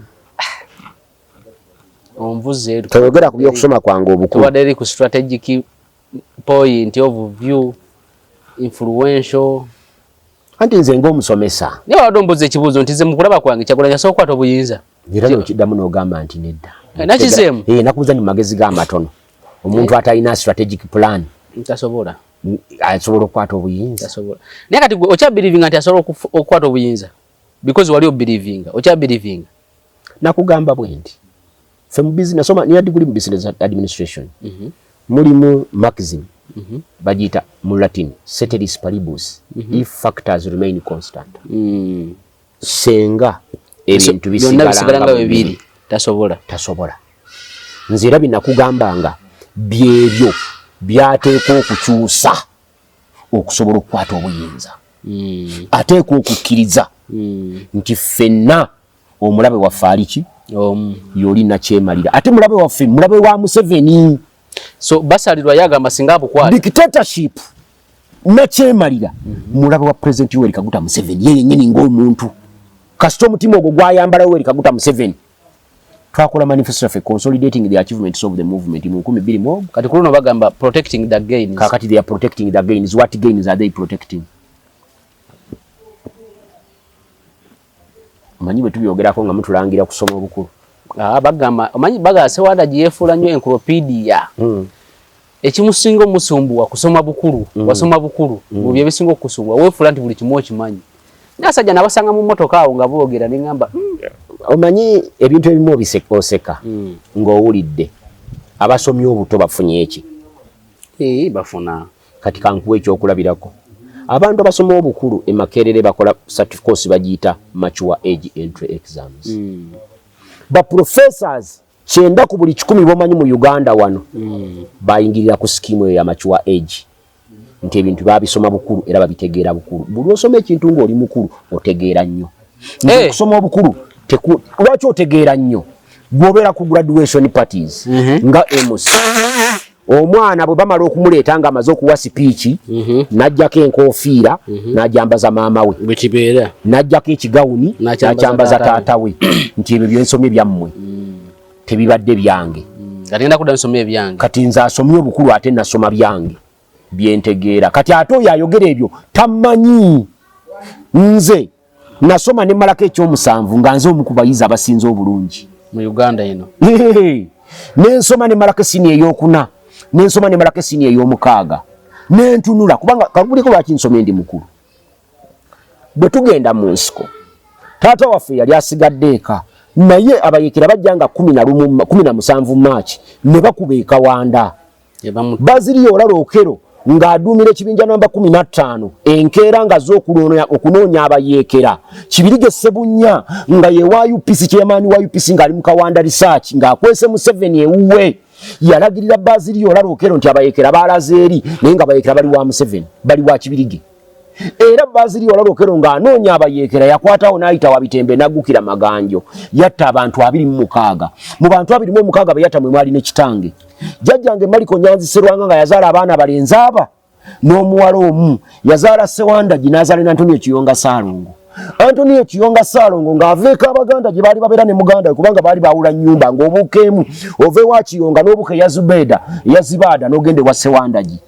Onvuze. Toyogera ku by'okusoma kwange obukulu. Tubadde eri ku strategic point of view influential anti nze ngaomusomesa naye wabadde ombuuza ekibuuzo nti ze mukulaba kwange kyagulanyi asobola okukwata obuyinza era nokiddamu nogamba nti nedda eh, nakizeemu eh, nakubuuza nti mumagezi ga matono omuntu eh. atalina strategic plan tasobola asobola okukwata obuyinza naye kati okyabirivinga nti asobola okukwata obuyinza because wali obirivinga okyabirivinga nakugamba bwendi Ffe mu business nasoma nina diguli mu business administration mm -hmm. mulimu maxim mm -hmm. bagiyita mu latin ceteris paribus mm -hmm. if factors remain constant mm. senga ebintu so, bisigalanga bibiri tasobola tasobola nze era binakugambanga byebyo byateekwa okukyusa okusobola okukwata obuyinza mm. ateekwa okukkiriza mm. nti ffenna omulabe waffe aliki omu yoli nakyemalira ate mulabe waffe mulabe wa museveni so basalirwa yagamba singa abukwata dictatorship nakyemalira mulabe wa president yoweri kaguta museveni ye yenyini ngaomuntu kasita omutima ogwo gwayambala yoweri kaguta museveni twakola manifesto yaffe consolidating the achievements of the movement mu nkumi bbiri mu kati kuluno bagamba protecting the gains kakati they are protecting the gains what gains are they protecting Omanyi bwe tubyogerako nga mutulangira kusoma obukulu. Ah, bagamba omanyi bagala Sewanda gye yeefuula nnyo enkulopidiya. Hmm. Ekimusinga omusumbuwa kusoma bukulu, hmm. wasoma bukulu, hmm. mu bye bisinga okusubwa, weefuula nti buli kimu okimanyi. Nasajja nabasanga mu mmotoka awo nga boogera ne ngamba omanyi ebintu ebimu obiseka oseka ng'owulidde abasomye obuto bafunye eki? Ee, bafuna. Kati kankuwe ekyokulabirako. Abantu abasoma obukulu e Makerere bakola course bagiyita mature age entry exams. Mm. Ba professors kyenda ku buli kikumi bomanyi mu Uganda wano mm. bayingirira ku skimu eyo ya mature age nti ebintu babisoma bukulu era babitegeera bukulu. Buli osoma ekintu ng'oli mukulu otegeera nnyo. nze eh. okusoma obukulu lwaki otegeera nnyo gwobeera ku graduation parties mhm. nga emus omwana bwe bamala okumuleeta nga amaze okuwa sipiiki mhm. n'ajjako enkofiira mhm. n'ajambaza maama we bwekibeera n'ajjako ekigawuni n'akyambaza taata we nti ebyo byensomye byammwe mm. tebibadde byange mm. kati nze asomye obukulu ate nasoma byange byentegeera kati ate oyo ayogera ebyo tamanyi nze nasoma nemalako ekyomusanvu nga nze omu kubayizi abasinze obulungi mu uganda eno nensoma nemalako esini eyokuna nensoma nemalako esini eyomukaaga nentunula kubanga kakuliko lwaki nsoma endi mukulu bwe tugenda mu nsiko taata waffe yali asigadde eka naye abayekera bajja nga kumi na musanvu maaki ne bakuba ekawanda baziriya olala okero ng'aduumira ekibinja namba kumi na ttaano enkeera nga z'okulonooya okunoonya abayeekera kibirige sebunya nga ye wa upc kyemaani wa upc ng'ali mu kawanda risaaki ng'akwese museveni ewuwe yalagirira baziriya olala okero nti abayeekera baalaze eri naye nga bayeekera bali wa museveni bali wa kibirige era baziri wala lokero nga anonya abayekera yakwatawo nayita wabitembe nagukira maganjo yatta abantu abiri mu mukaaga mu bantu abiri mu mukaaga beyata mwe mwali ne kitange jajjange maliko nyanzi serwanga nga yazala abaana balenzi aba n'omuwala omu yazala sewanda ginazale na antonio kiyonga salongo antonio kiyonga salongo nga aveeka abaganda gye baali babeera ne muganda we kubanga baali bawula nyumba ng'obuuka emu ova ewa kiyonga n'obuka eya zubeda eya zibaada n'ogenda ewa sewandagi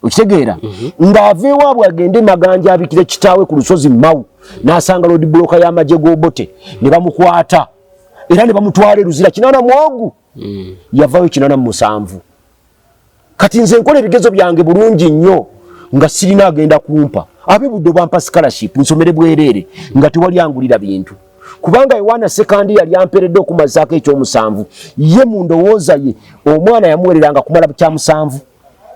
okitegeera mhm. ng'ava ewaabwe agende maganja abikire kitaawe ku lusozi mawu n'asanga lodi buloka y'amagye g'obote ne bamukwata era ne bamutwala eruzira kinana mwogu mhm. yavayo kinana mu musanvu kati nze nkola ebigezo byange bulungi nnyo nga sirina agenda kumpa abe budde bwampa scholarship nsomere bwereere nga tewali angulira bintu kubanga yowaana sekandi yali amperedde okumazaako ekyomusanvu ye mu ndowooza ye omwana yamuwereranga kumala kyamusanvu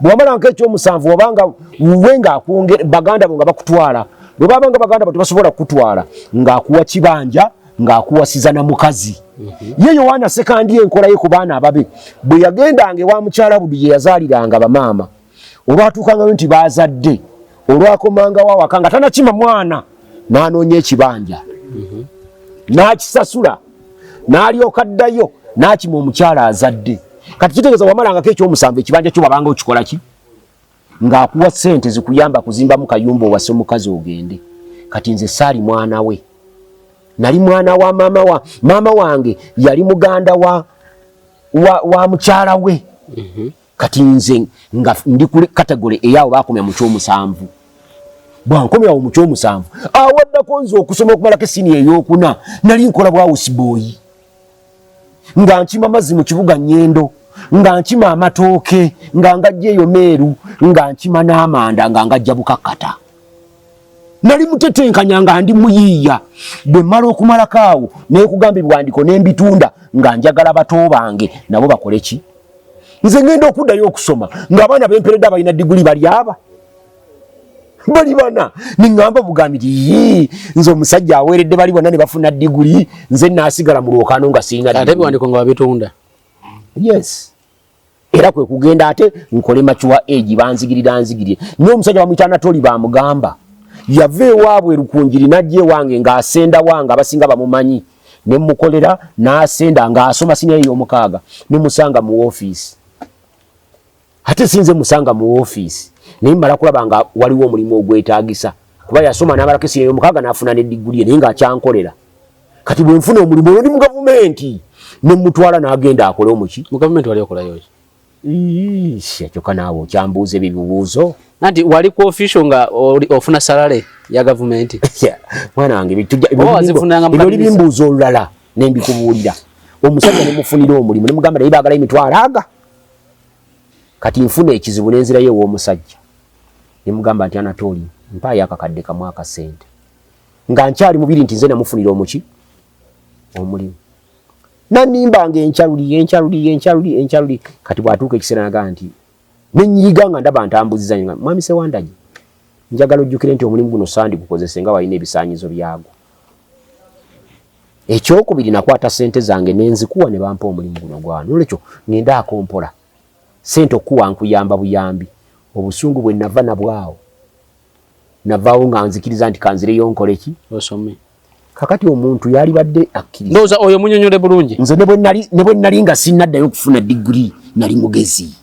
bwewamala nka ekyomusanvu wabanga wuwe ngaakwongera baganda bo nga bakutwala bwebabanga baganda bo tebasobola kukutwala ngaakuwa kibanja ngaakuwasiza na mukazi mhm. ye yowaana sekandi enkolaye ku baana ababe bwe yagendanga ewa mukyala budi gye yazaaliranga bamaama olwatuukangayo nti baazadde olwakomangawo awaka nga tanakima mwana n'anoonya ekibanja mhm. n'akisasula n'alyoka ddayo n'akima omukyala azadde kati kitegeeza wamalangako ekyomusanvu ekibanja kyo wabanga okikola ki ng'akuwa ssente zikuyamba kuzimbamu kayumba owase omukazi ogende kati nze saali mwana we nali mwana wa maama wa maama wange yali muganda wa wa, wa mukyala we mm -hmm. kati nze nga ndi kuli category eyawo bakomya mu kyomusanvu bwankomyawo mu kyomusanvu awaddako nze okusoma okumalako esini eyokuna nali nkola bwawusiboyi nga nkima mazzi mu kibuga nyendo nga nkima amatooke nga ngajja eyo meeru nga nkima n'amanda nga ngajja bukakkata nali mutetenkanya nga ndi muyiiya bwe mmala okumalako awo nekugamba ebiwandiko ne mbitunda nga njagala bato bange nabo bakole ki nze ngenda okuddayo okusoma ng'abaana bemperedde abalina diguli bali aba bali bana niŋŋamba bugambi ti yii nze omusajja aweeredde bali bonna ne bafuna diguli nze naasigala mu lwokaano nga sirina ate ebiwandiko nga babitunda yes era kwe kugenda ate nkole makiwa egi banzigirira nzigirire naye omusajja bamuyita anatoli bamugamba yava ewaabwe lukunjiri najja ewange ng'asenda wange abasinga bamumanyi ne mukolera n'asenda ng'asoma siniya ey'omukaaga ne musanga mu woofiisi ate sinze musanga mu woofiisi naye mmala kulaba nga waliwo omulimu ogwetaagisa kuba yasoma n'abalako esiniya ey'omukaaga n'afuna ne digguliye naye ng'akyankolera kati bwenfuna omulimu olwo ndi mu gavumenti nemutwala nagenda akole omuki mu gavumenti wali okolayo ki kyoka naawe okyambuuza ebyo bibuuzo nanti wali ku ofisio nga ofuna salale ya gavumenti mwana wange ebyoli bimbuuza olulala nembikubuulira omusajja nemufunira omulimu nemugamba naye bagala emitwalo aga kati nfuna ekizibu nenzirayo ew'omusajja nemugamba nti anatooli mpaayo akakadde kamu akasente nga nkyali mubiri nti nze namufunira omuki omulimu nanimba nga encaluli encaluli encaluli encaluli kati bwatuuka ekiseera naga nti nenyiyiga nga ndaba ntambuziza nga mwami sewandagi njagala ojjukire nti omulimu guno sandi gukozese nga walina ebisanyizo byagwo ekyokubiri nakwata sente zange nenzikuwa ne bampa omulimu guno gwana olwekyo ngenda akompola sente okukuwa nkuyamba buyambi obusungu bwe nava nabwawo navaawo nga nzikiriza nti kanzireyo nkole ki osome kakati omuntu yalibadde akkiriza ndowooza oyo munyonyole bulungi nze ne bwe nnali nga sinnaddayo okufuna diguli nali mugezi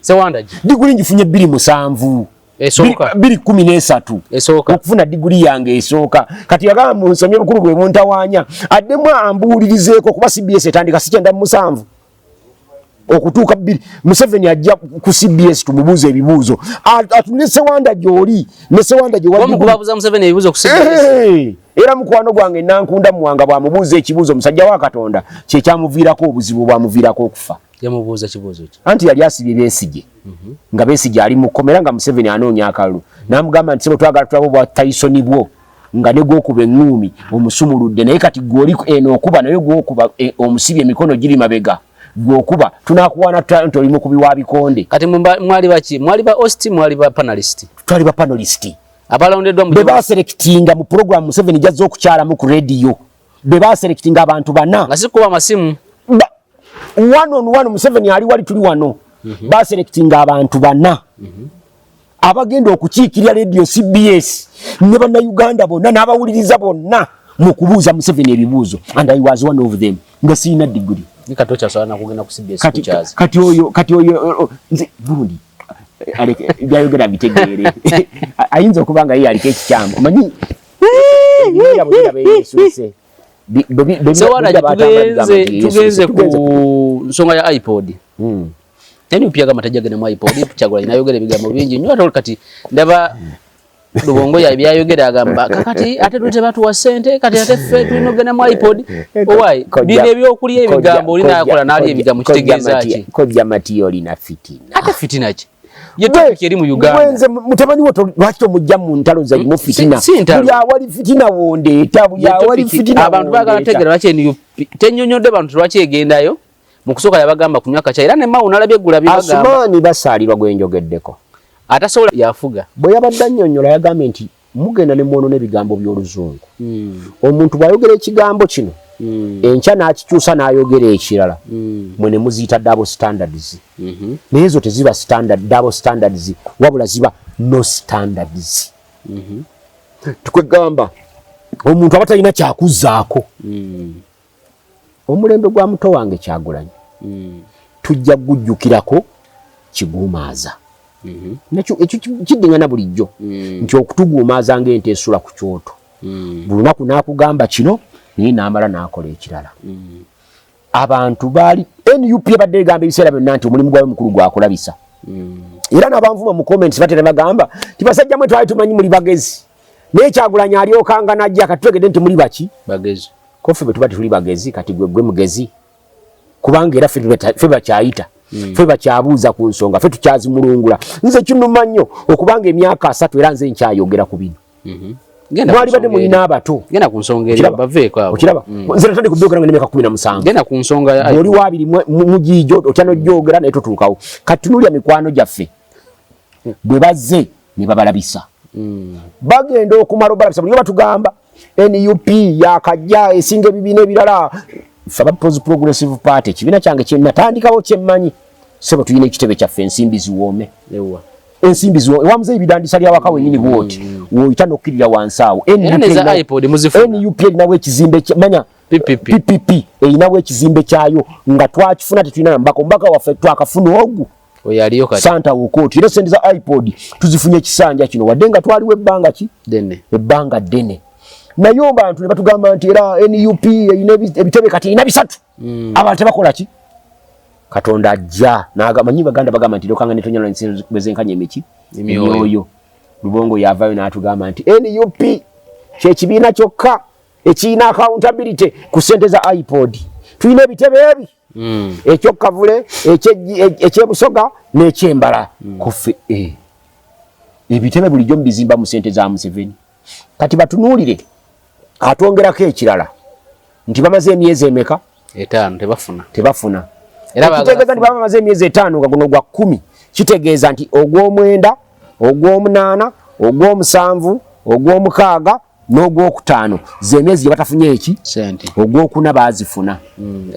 sewandagi diguli ngifunye bbiri musanvu biri kumi n'esatu okufuna diguli yange esooka kati yagamba munsomye obukulu bwe buntawanya addemu ambuulirizeeko kuba cbs etandika sikyenda mu musanvu okutuuka bbiri museveni ajja ku cbs tumubuuza ebibuuzo atune sewanda gyoli ne sewanda era mukwano gwange nankunda muwanga bwamubuuza ekibuuzo musajja wa katonda kyekyamuviirako obuzibu bwamuviirako okufa anti yali asibye besige mhm. nga besige ali mukkomera nga museveni anoonya akalulu namugamba nti sebo twagala tulaba obwa taisoni bwo nga ne gwokuba eŋŋuumi omusumuludde naye kati gwoli eno eh, okuba naye gwokuba eh, omusibi emikono giri mabega gwokuba tunakuwaana tutya nti oli mukubi wa bikonde kati mwali baki mwali ba ost mwali ba panalist twali ba panalist abalondeddwa mu bebaserekitinga mu puroguramu museveni gyazza okukyalamu ku rediyo be baselectinga abantu bana nga sikuba amasimu one on one Museveni ali wali tuli wano mm -hmm. baselectinga abantu bana mm -hmm. abagenda okukiikirira radio CBS ne bana Uganda bonna n'abawuliriza bonna mu kubuuza Museveni ebibuuzo and I was one of them nga sirina diguli kati oyo kati oyo oh, oh, nze burundi byayogera bitegeere ayinza okuba nga ye aliko ekikyamu omanyi tugenze ku nsonga ya ipod hmm. yani upya kama tajagenda mu ipod chagula inayogera ebigambo bingi nyo ate kati ndaba lubongo ya byayogera agamba kakati ate tulete batu wa sente kati ate ffe tulina okugenda mu ipod owayi bino ebyokulya ebigambo olina yakola naali ebigambo kitegeeza ki kojja matiyo olina fitina ate fitina ki ye topic eri mu Uganda mwenze mutabani wo lwaki tomujja mu ntalo za mu fitina buli awali fitina wondeeta buli awali fitina abantu bagala tegera lwaki eniyo tenyonyodde bantu lwaki egendayo mu kusooka yabagamba kunywa kaca era ne mawu nalabye gula bye bagamba asumani basaalirwa gwe njogeddeko atasobola yafuga bwe yabadde annyonnyola yagambye nti Mugenda ne mwonona ebigambo by'oluzungu. Mm. Omuntu bw'ayogera ekigambo kino mm. enkya n'akikyusa n'ayogera ekirala mm. mwe ne muziyita double standards mm -hmm. naye ezo teziba standard, double standards wabula ziba no standards mm -hmm. tukwegamba omuntu aba talina kyakuzaako mm. omulembe gwa muto wange kyagulanyi mm. tujja kugujjukirako kiguumaaza mm-hmm. nakyo ekyo kiddingana bulijjo mm. nti okutuguumaaza ngaente esula ku kyoto mm. buli lunaku nakugamba kino naye namala nakola ekirala mm. abantu baali nup ebadde egamba ebiseera byonna nti omulimu gwawe mukulu gwakulabisa era nabanvuma mu comments batera bagamba tibasajjamwe twali tumanyi muli bagezi naye kyagulanyi alyokanga najja kati twegedde nti muli baki bagezi kofe bwe tuba tetuli bagezi kati gwe gwe mugezi kubanga era fe bakyayita hmm. fe bakyabuuza ku nsonga fe tukyazimulungula nze kinuma nnyo okubanga emyaka asatu era nze nkyayogera ku bino mhm. mwali badde mulina abato okiraba hmm. nze natandika obyogera nga nemyaka kumi na musangaoli wabiri mugiijo otya nogyogera naye totuukawo kati tunulya mikwano gyaffe bwe bazze ne babalabisa mm. bagenda okumala obalabisa buli batugamba nup yakajja esinga ebibiina ebirala fe abapozi progressive party ekibiina kyange kyenatandikawo kyemmanyi sebo tulina ekitebe kyaffe ensimbi ziwoome ensimbi ziwo ewamuze ebidandisa lya waka wenyini bwoti mm. woyita nokukirira wansi awo nup erinawo ekizimbe manya ppp erinawo ekizimbe kyayo nga twakifuna tetulina nambaka omubaka waffe twakafuna ogu oyo aliyo kati santa wokoti era sente za ipod tuzifunye kisanja kino wadde nga twaliwo ebbanga ki dene ebbanga dene naye obantu ne batugamba nti era nup erina ebitebe kati erina bisatu mm. abantu tebakola ki katonda ajja manyi baganda bagamba nti lokanga netonyala bwezenkanya emiki emyoyo lubongo yavayo n'atugamba nti nup kyekibiina kyokka ekirina accountability ku sente za ipod tulina ebitebe ebi mm. ekyokkavule ekyebusoga n'ekyembala mm. kuffe eh. ebitebe bulijjo mubizimba mu sente za museveni kati batunuulire atwongerako ekirala nti bamaze emyezi emeka etaano tebafuna tebafuna ekitegeeza nti baba bamaze emyezi etaano nga guno gwa kkumi kitegeeza nti ogw'omwenda ogw'omunaana ogw'omusanvu ogw'omukaaga n'ogwokutaano zemyezi gyebatafunye eki ogwokuna bazifuna hmm.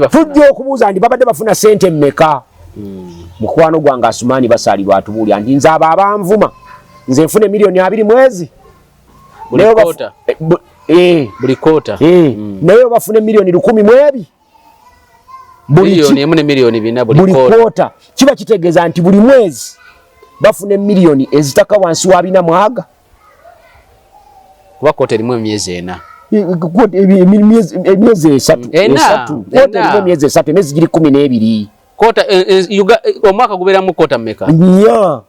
tujja okubuuza nti babadde bafuna sente meka hmm. mukwano gwange asumaani basalirwa atubuulya nti nze abo abanvuma nze nfuna emiliyoni abiri mwezi naye obafuna emiliyoni lukumi mwebi buli kota kiba kitegeeza nti buli mwezi bafuna emiliyoni ezitaka wansi wa bina mwaga kuba kkooti erimu emyezi ena emyezi esatu kkooti erimu emyezi esatu emyezi giri kumi n'ebiri kota eh, eh, yuga eh, omwaka guberamu kota meka ya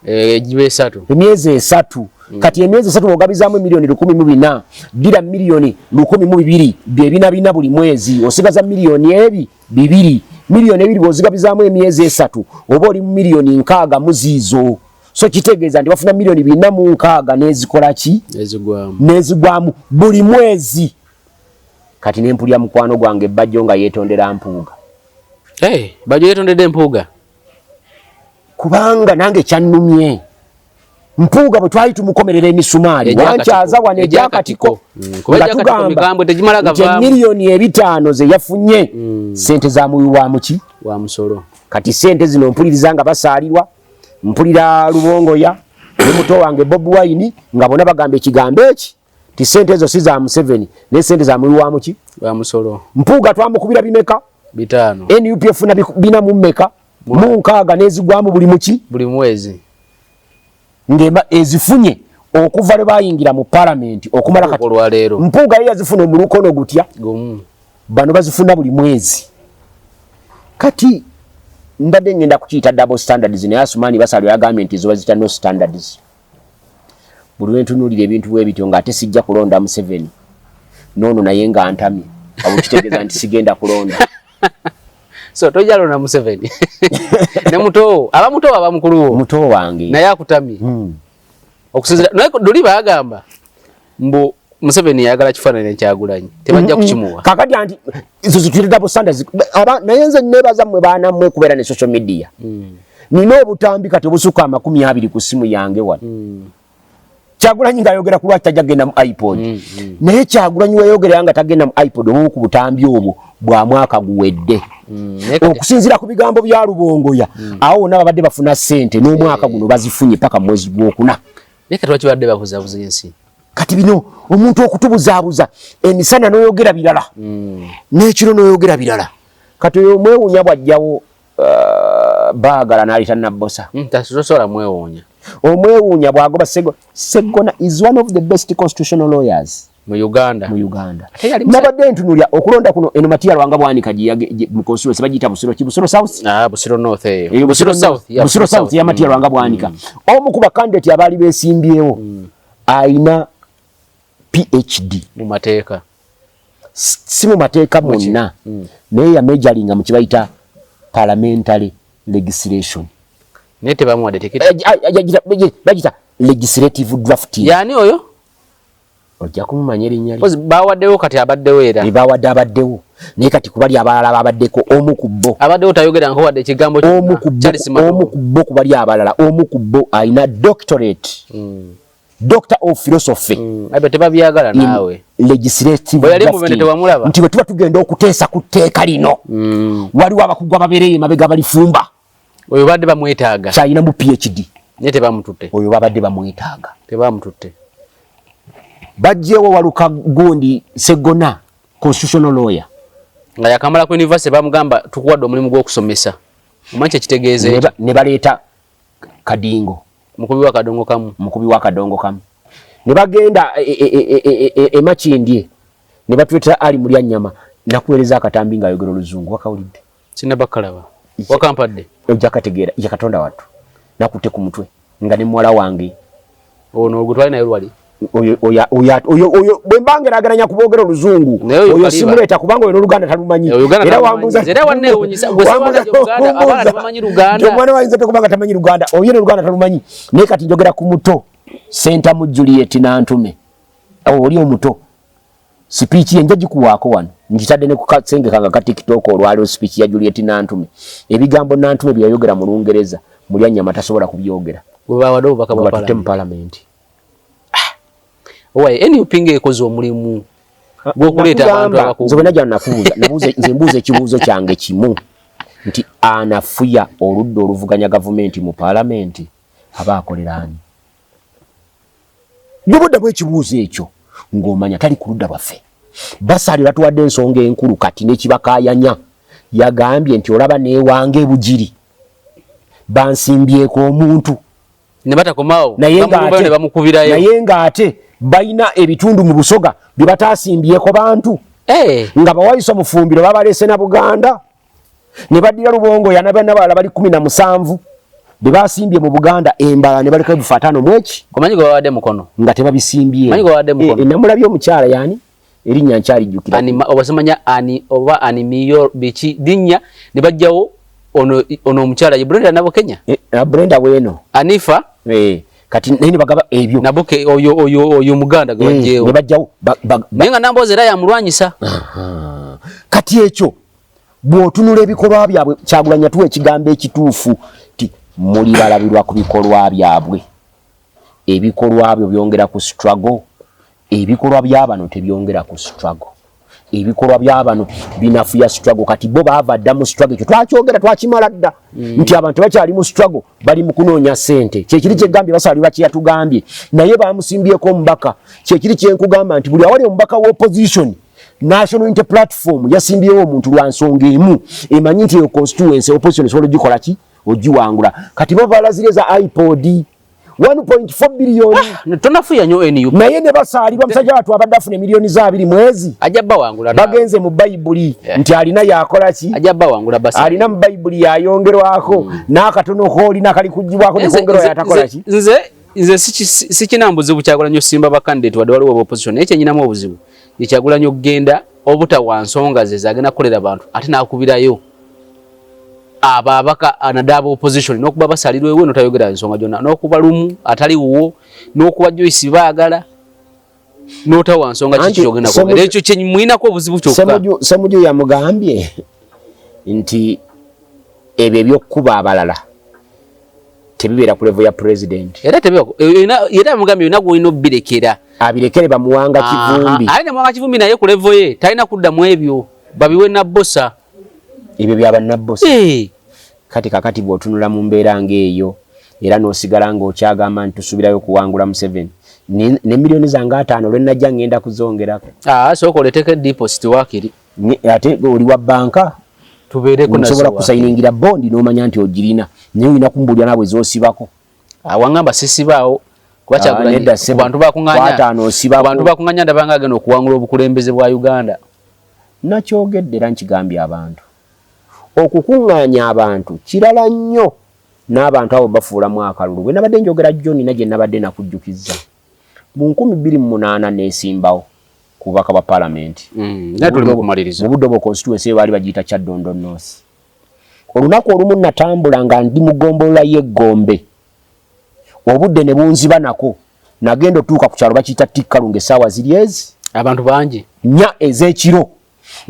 eh jibe esatu emyezi esatu mm. kati emyezi esatu ogabizamu milioni 10 mu bina dira milioni 10 mu bibiri bye bina bina buli mwezi osigaza milioni ebi bibiri milioni ebiri bozigabizamu emyezi esatu oba oli mu milioni nkaga muzizo so kitegeeza nti bafuna miliyoni bina mu nkaaga nezikola ki nezigwamu buli mwezi kati nempulira mukwano gwange bajjo nga yetondera mpuuga hey, eh, bajjo yetondedde mpuuga kubanga nange kyannumye mpuuga bwe twali tumukomerera emisumaali wankyaza wano egyakatiko mm, nga tugamba nti emiliyoni ebitaano ze yafunye mm. sente za muwi wa muki wa musolo kati sente zino mpuliriza nga basaalirwa mpulira lubongoya ne muto wange bob wine nga bona bagamba ekigambo eki ti sente ezo si za museveni naye sente za muwi wa muki wa musolo mpuuga twamukubira bimeka bitaano nup efuna bina mu mmeka mu nkaaga n'ezigwamu buli muki buli mwezi ng'emba ezifunye okuva lwe bayingira mu palamenti okumala kati mpuuga ye yazifuna omulukono gutya gumu bano bazifuna buli mwezi kati mbadde ngenda kukiyita double standards naye asumaani basalwe yagambye nti zo bazita no standards buli lwentunuulira ebintu bwe bityo ng'ate sijja kulonda museveni noono naye nga ntamye abo kitegeeza nti sigenda kulonda so tojja londa museveni ne mutoowo aba mutoowo aba mukuluwo mutoowo wange naye akutamye hmm. okusinzira naye duli bagamba mbu Museveni yagala kifanana ekyagulanyi tebajja kukimuwa kakati anti zizitire double standards aba naye nze nebaza mwe bana mwe kubera ne social media mm. nina obutambi kati obusuka amakumi abiri ku simu yange wano mm. kyagulanyi nga ayogera ku lwaki tajja kugenda mu ipod mm, mm. naye kyagulanyi weyogera nga tagenda mu ipod obumu ku butambi obwo bwa mwaka guwedde mm, okusinzira ku bigambo bya lubongoya mm. awo wona babadde bafuna sente n'omwaka guno bazifunye paka mu mwezi gwokuna kati bino omuntu okutubuzaabuza emisana n'oyogera birala mm. n'ekiro n'oyogera birala kati oyo omwewunya bwajjawo uh, bagala nayita nabbosa hmm, tosobola mwewuunya omwewuunya bwagoba segona is one of the best constitutional lawyers mu uganda mu uganda nabadde ntunulya okulonda kuno eno matiya lwanga bwanika mu constituency bagiyita busiro ki busiro south ah, busiro north eyo eh, busiro south busiro south ya matiya lwanga bwanika hmm. omu ku bakandidate abaali besimbyewo hmm. ayina phd mu mateeka si mu mateeka mwonna mm. naye yamejalinga mu kibayita parliamentary legislation naye tebamuwadde tekiti eh, ah, ah, bagita legislative drafting yani oyo ojja kumumanya erinnya lye bawaddewo kati abaddewo era bawadde abaddewo naye kati kubali abalala babaddeko omu ku bo abaddewo tayogera nko wadde ekigambo omu ku bo kubali abalala omu ku bo alina doctorate mm. doctor of philosophy mm. abe tebabyagala nawe legislative yali mubende tewamulaba nti wetuba tugenda okuteesa ku tteeka lino mm. waliwo abakugwa babereyo emabega balifumba oyo badde bamwetaaga kyalina mu phd naye tebamututte oyo babadde bamwetaaga tebamututte bajjewo waluka gundi segona constitutional lawyer nga yakamala ku university bamugamba tukuwadde omulimu gw'okusomesa omanyi kyekitegeeza ne baleeta kadingo mukubi wa kadongo kamu mukubi wa kadongo kamu ne bagenda emakindye e, e, e, ne batuletera ali mulya nyama nakuwereza akatambi nga ayogera oluzungu wakawulidde sinabakalaba wakampadde ojja kategeera yakatonda wattu nakutte ku mutwe nga ne muwala wange ono gwe twali naye lwali bwembanga eragananya kubogera oluzungu oyo simuleeta kubanga oyo noluganda talumanyi era wambuzaomwana wayinza tokubanga tamanyi luganda oyo noluganda talumanyi naye kati njogera ku muto sentamu juliet nantume oli omuto Sipiiki ye nja gikuwaako wano ngitadde ne ku kasenge kange aka tiktok olwaleero sipiiki ya Juliet Nantume ebigambo Nantume bye yayogera mu Lungereza Mulyannyama tasobola kubyogera batutte mu palamenti ah! owaye nup ng'ekoze omulimu gw'okuleeta abantu abakulu nze bwena gyanakubuuza nze mbuuza ekibuuzo kyange kimu nti anafuya oludda oluvuganya gavumenti mu palamenti aba akoleraani ne bwoddamu ekibuuzo ekyo ng'omanya tali ku ludda lwaffe basaali batuwadde ensonga enkulu kati nekibakayanya yagambye nti olaba newange ebugiri bansimbyeko omuntu naye ng'ate balina ebitundu mu busoga bye bataasimbyeko bantu eh. nga bawayisa omufumbiro babalese na buganda ne baddira lubongoya nabanabala bali kumi na musanvu bebasimbye mu buganda embala ne baleka ebifa ataano mweki omanyi gwe babadde mukono nga tebabisimbye manyi gwe babadde eh, mukono e, namulabye omukyala yani erinnya nkyalijjukira obasimanya ani oba ani miyo biki linnya ne bajjawo ono ono omukyala ye brenda nabo kenya e, brenda weeno anifa e. kati naye nibagaba ebyo nabuke oyo oyo oyo muganda gwe bajjewo naye nga namboozi era yamulwanyisa kati ekyo bwotunula ebikolwa byabwe kyagulanya tuwa ekigambo ekituufu ti muli balabirwa ku bikolwa byabwe ebikolwa byo byongera ku struggle ebikolwa byabano tebyongera ku struggle ebikolwa byabano binafuya struggle kati bo baava dda mu struggle ekyo twakyogera twakimala dda mm. nti abantu tebakyali mu struggle bali mu kunoonya sente kyekiri kyegambye basaali bakiyatugambye naye bamusimbyeko omubaka kyekiri kyenkugamba nti buli awali omubaka wa opposition National Unity Platform yasimbyewo omuntu lwa nsonga emu emanyi nti eyo constituency opposition esobola ogikola ki ogiwangula kati bo balazire za ipod 1.4 billion ah, tonafuya nyo nup naye ne basaalirwa musajja watu abadde afuna emiliyoni za abiri mwezi ajja bawangula bagenze mu bayibuli yeah. nti alina yakola ki ajja bawangula basa alina mu bayibuli yayongerwako mm. n'akatono koolina kali kugibwako nekongerwa yatakola ki nze nze sikinambuzibu kyakola nyo simba bakandidate wadde waliwo obuzibu naye kyenyinamu obuzibu ye kyagulanyi okugenda obutawa nsonga ze zagenda kukolera bantu ate nakubirayo abo abaka anadaaba opposition nokuba basalirwa ewe notayogera nsonga gyonna nokuba lumu atali wuwo nokuba joyce baagala notawa nsonga kiki kyogenda kwogera ekyo kyemulinako obuzibu kyokka semuju yamugambye nti ebyo ebyokukuba abalala tebibeera ku level ya president era tebiwa era mugambi yona gwe no birekera abirekere bamuwanga kivumbi ali ne mwanga kivumbi naye ku level ye talina kudda mu ebyo babiwe na bossa ebyo bya banna bossa eh kati kakati bwotunula mu mbeera ngeeyo era nosigala nga okyagamba nti tusubirayo kuwangula museveni ne milioni zange ataano lwenajja ngenda kuzongerako ah, sooka oleteko ediposit wakiri ate oli wa banka tubeerekosobola kusayiningira bondi nomanya nti ogirina naye olina kumbuulira naabwe zosibako awangamba ah, sisibaawo kubabantu ah, bakunganya ndabanga agenda okuwangula obukulembeze bwa uganda nakyogedde era nkigambye abantu okukunganya abantu kirala nnyo n'abantu abo bafuulamu akalulu bwe nabadde njogera jjo nina gye nabadde nakujjukiza Mu nkumi bbiri mu munaana nneesimbawo ku bubaka bwa Palamenti mm, mu Budobo constituency eyo baali bagiyita Kyaddondo North. Olunaku olumu natambula nga ndi mu ggombolola y'e Gombe, obudde ne bunziba nako, nagenda otuuka ku kyalo bakiyita Tikkalunga essaawa ziri ezi abantu bangi nnya ez'ekiro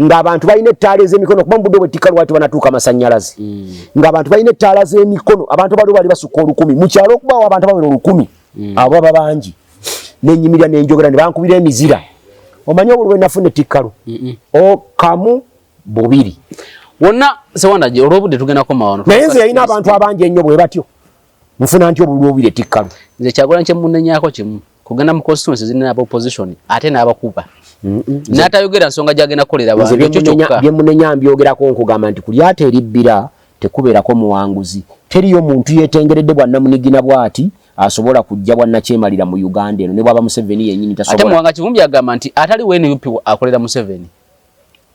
ng'abantu balina ettaala ez'emikono kuba mubudde obwettikka lwaki banatuuka amasannyalaze mm. ng'abantu balina ettaala z'emikono abantu baliwo bali basukka olukumi mu kyalo okubaawo abantu abawera olukumi mm. abo baba bangi nenyimirira nenjogera ne bankubira emizira omanyi obulwe nafuna ettikkalu okamu bubiri wonna sewandagi olwobudde tugenda komawano naye nze yalina abantu abangi ennyo bwe batyo nfuna nti obulwe obubiri ettikkalu nze kyagola nkyemunenyako kimu kugenda mu constituency zirina aba opposition ate n'abakuba n'atayogera nsonga gyagenda kukolera byemunenya mbyogerako nkugamba nti kulyata eribbira tekubeerako muwanguzi teriyo muntu yetengeredde bwannamunigina bwati asobola kujja bwannakyemalira mu uganda eno ne bwaba museveni yenyini tasobola ate muwanga kivumbi agamba nti atali wnup akolera museveni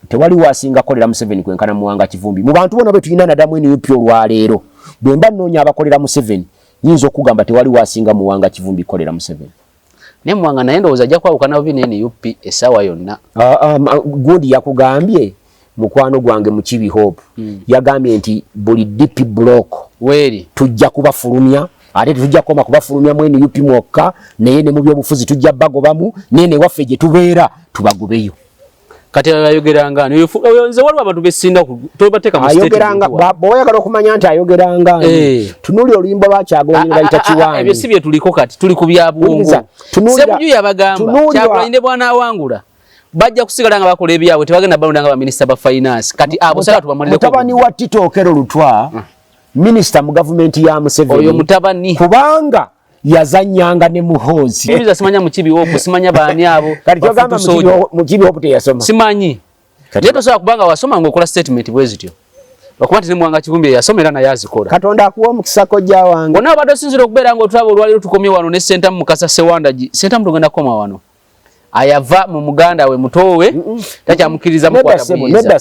tewali wasinga kolera Museveni kwenkana muwanga kivumbi mu bantu bona betuyina nadamu eno yopyo lwaleero bwemba nonya abakolera Museveni nyinza okugamba tewali wasinga muwanga kivumbi kolera Museveni ne muwanga naye ndowooza ajja kwawukana bubi ne nup essaawa yonna ah, ah, gundi yakugambye mukwano gwange mukibi hope hmm. yagambye nti buli dp block weri tujja kubafulumya ate tetujja kukoma kubafulumya mu nup mwokka naye ne mu byobufuzi tujja bagobamu naye newaffe gye tubeera tubagobeyo kati ayogeranga nze waliwo abantu besinda tobateka muayogeranga bweyagala okumanya nti ayogeranga eh. tunuli oluyimba lwakyagolaayita kiwanebyo si byetuliko kati tuli ku byabwongosebuju yabagambakyakulanyine bwana awangula bajja kusigala nga bakola ebyabwe tebagenda balonda nga baminisita ba finance kati abo sala tubamaliremutabani wa titookero lutwa hmm. minisita mu gavumenti ya museveni oyo mutabani kubanga yazanyanga ne muhoozi mbiza simanya mukibi woku simanya baani abo kati kyogamba mukibi woku teyasoma simanyi naye tosobola kubanga wasoma ngaokola statement bwe zityo okuba nti nemwanga kivumbi yasoma era naye azikola katonda akuwa omukisa kojja wange ona abadde osinzira okubeera nga otulaba olwaliro tukomye wano ne sentamu mukasa sewandagi sentamu tugenda kukoma wano ayava mu muganda we mutoowe takyamukiriza mukwatakuyiza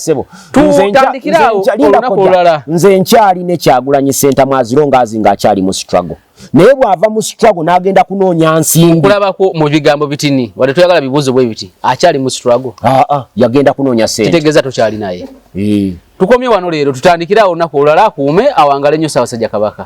tutandikirawo olunaku olulala nze nkyali ne kyagulanyi sentamu aziro ngaazi ngaakyali mu struggle naye bwava mu struggle n'agenda kunoonya nsimbi kulabako mu bigambo bitini wadde toyagala bibuuzo bwe biti akyali mu struggle aa ah, ah, yagenda kunoonya sente kitegeeza tokyali naye eh. tukomye wano leero tutandikirawo olunaku olulala akuume awangale nnyo saabasajja kabaka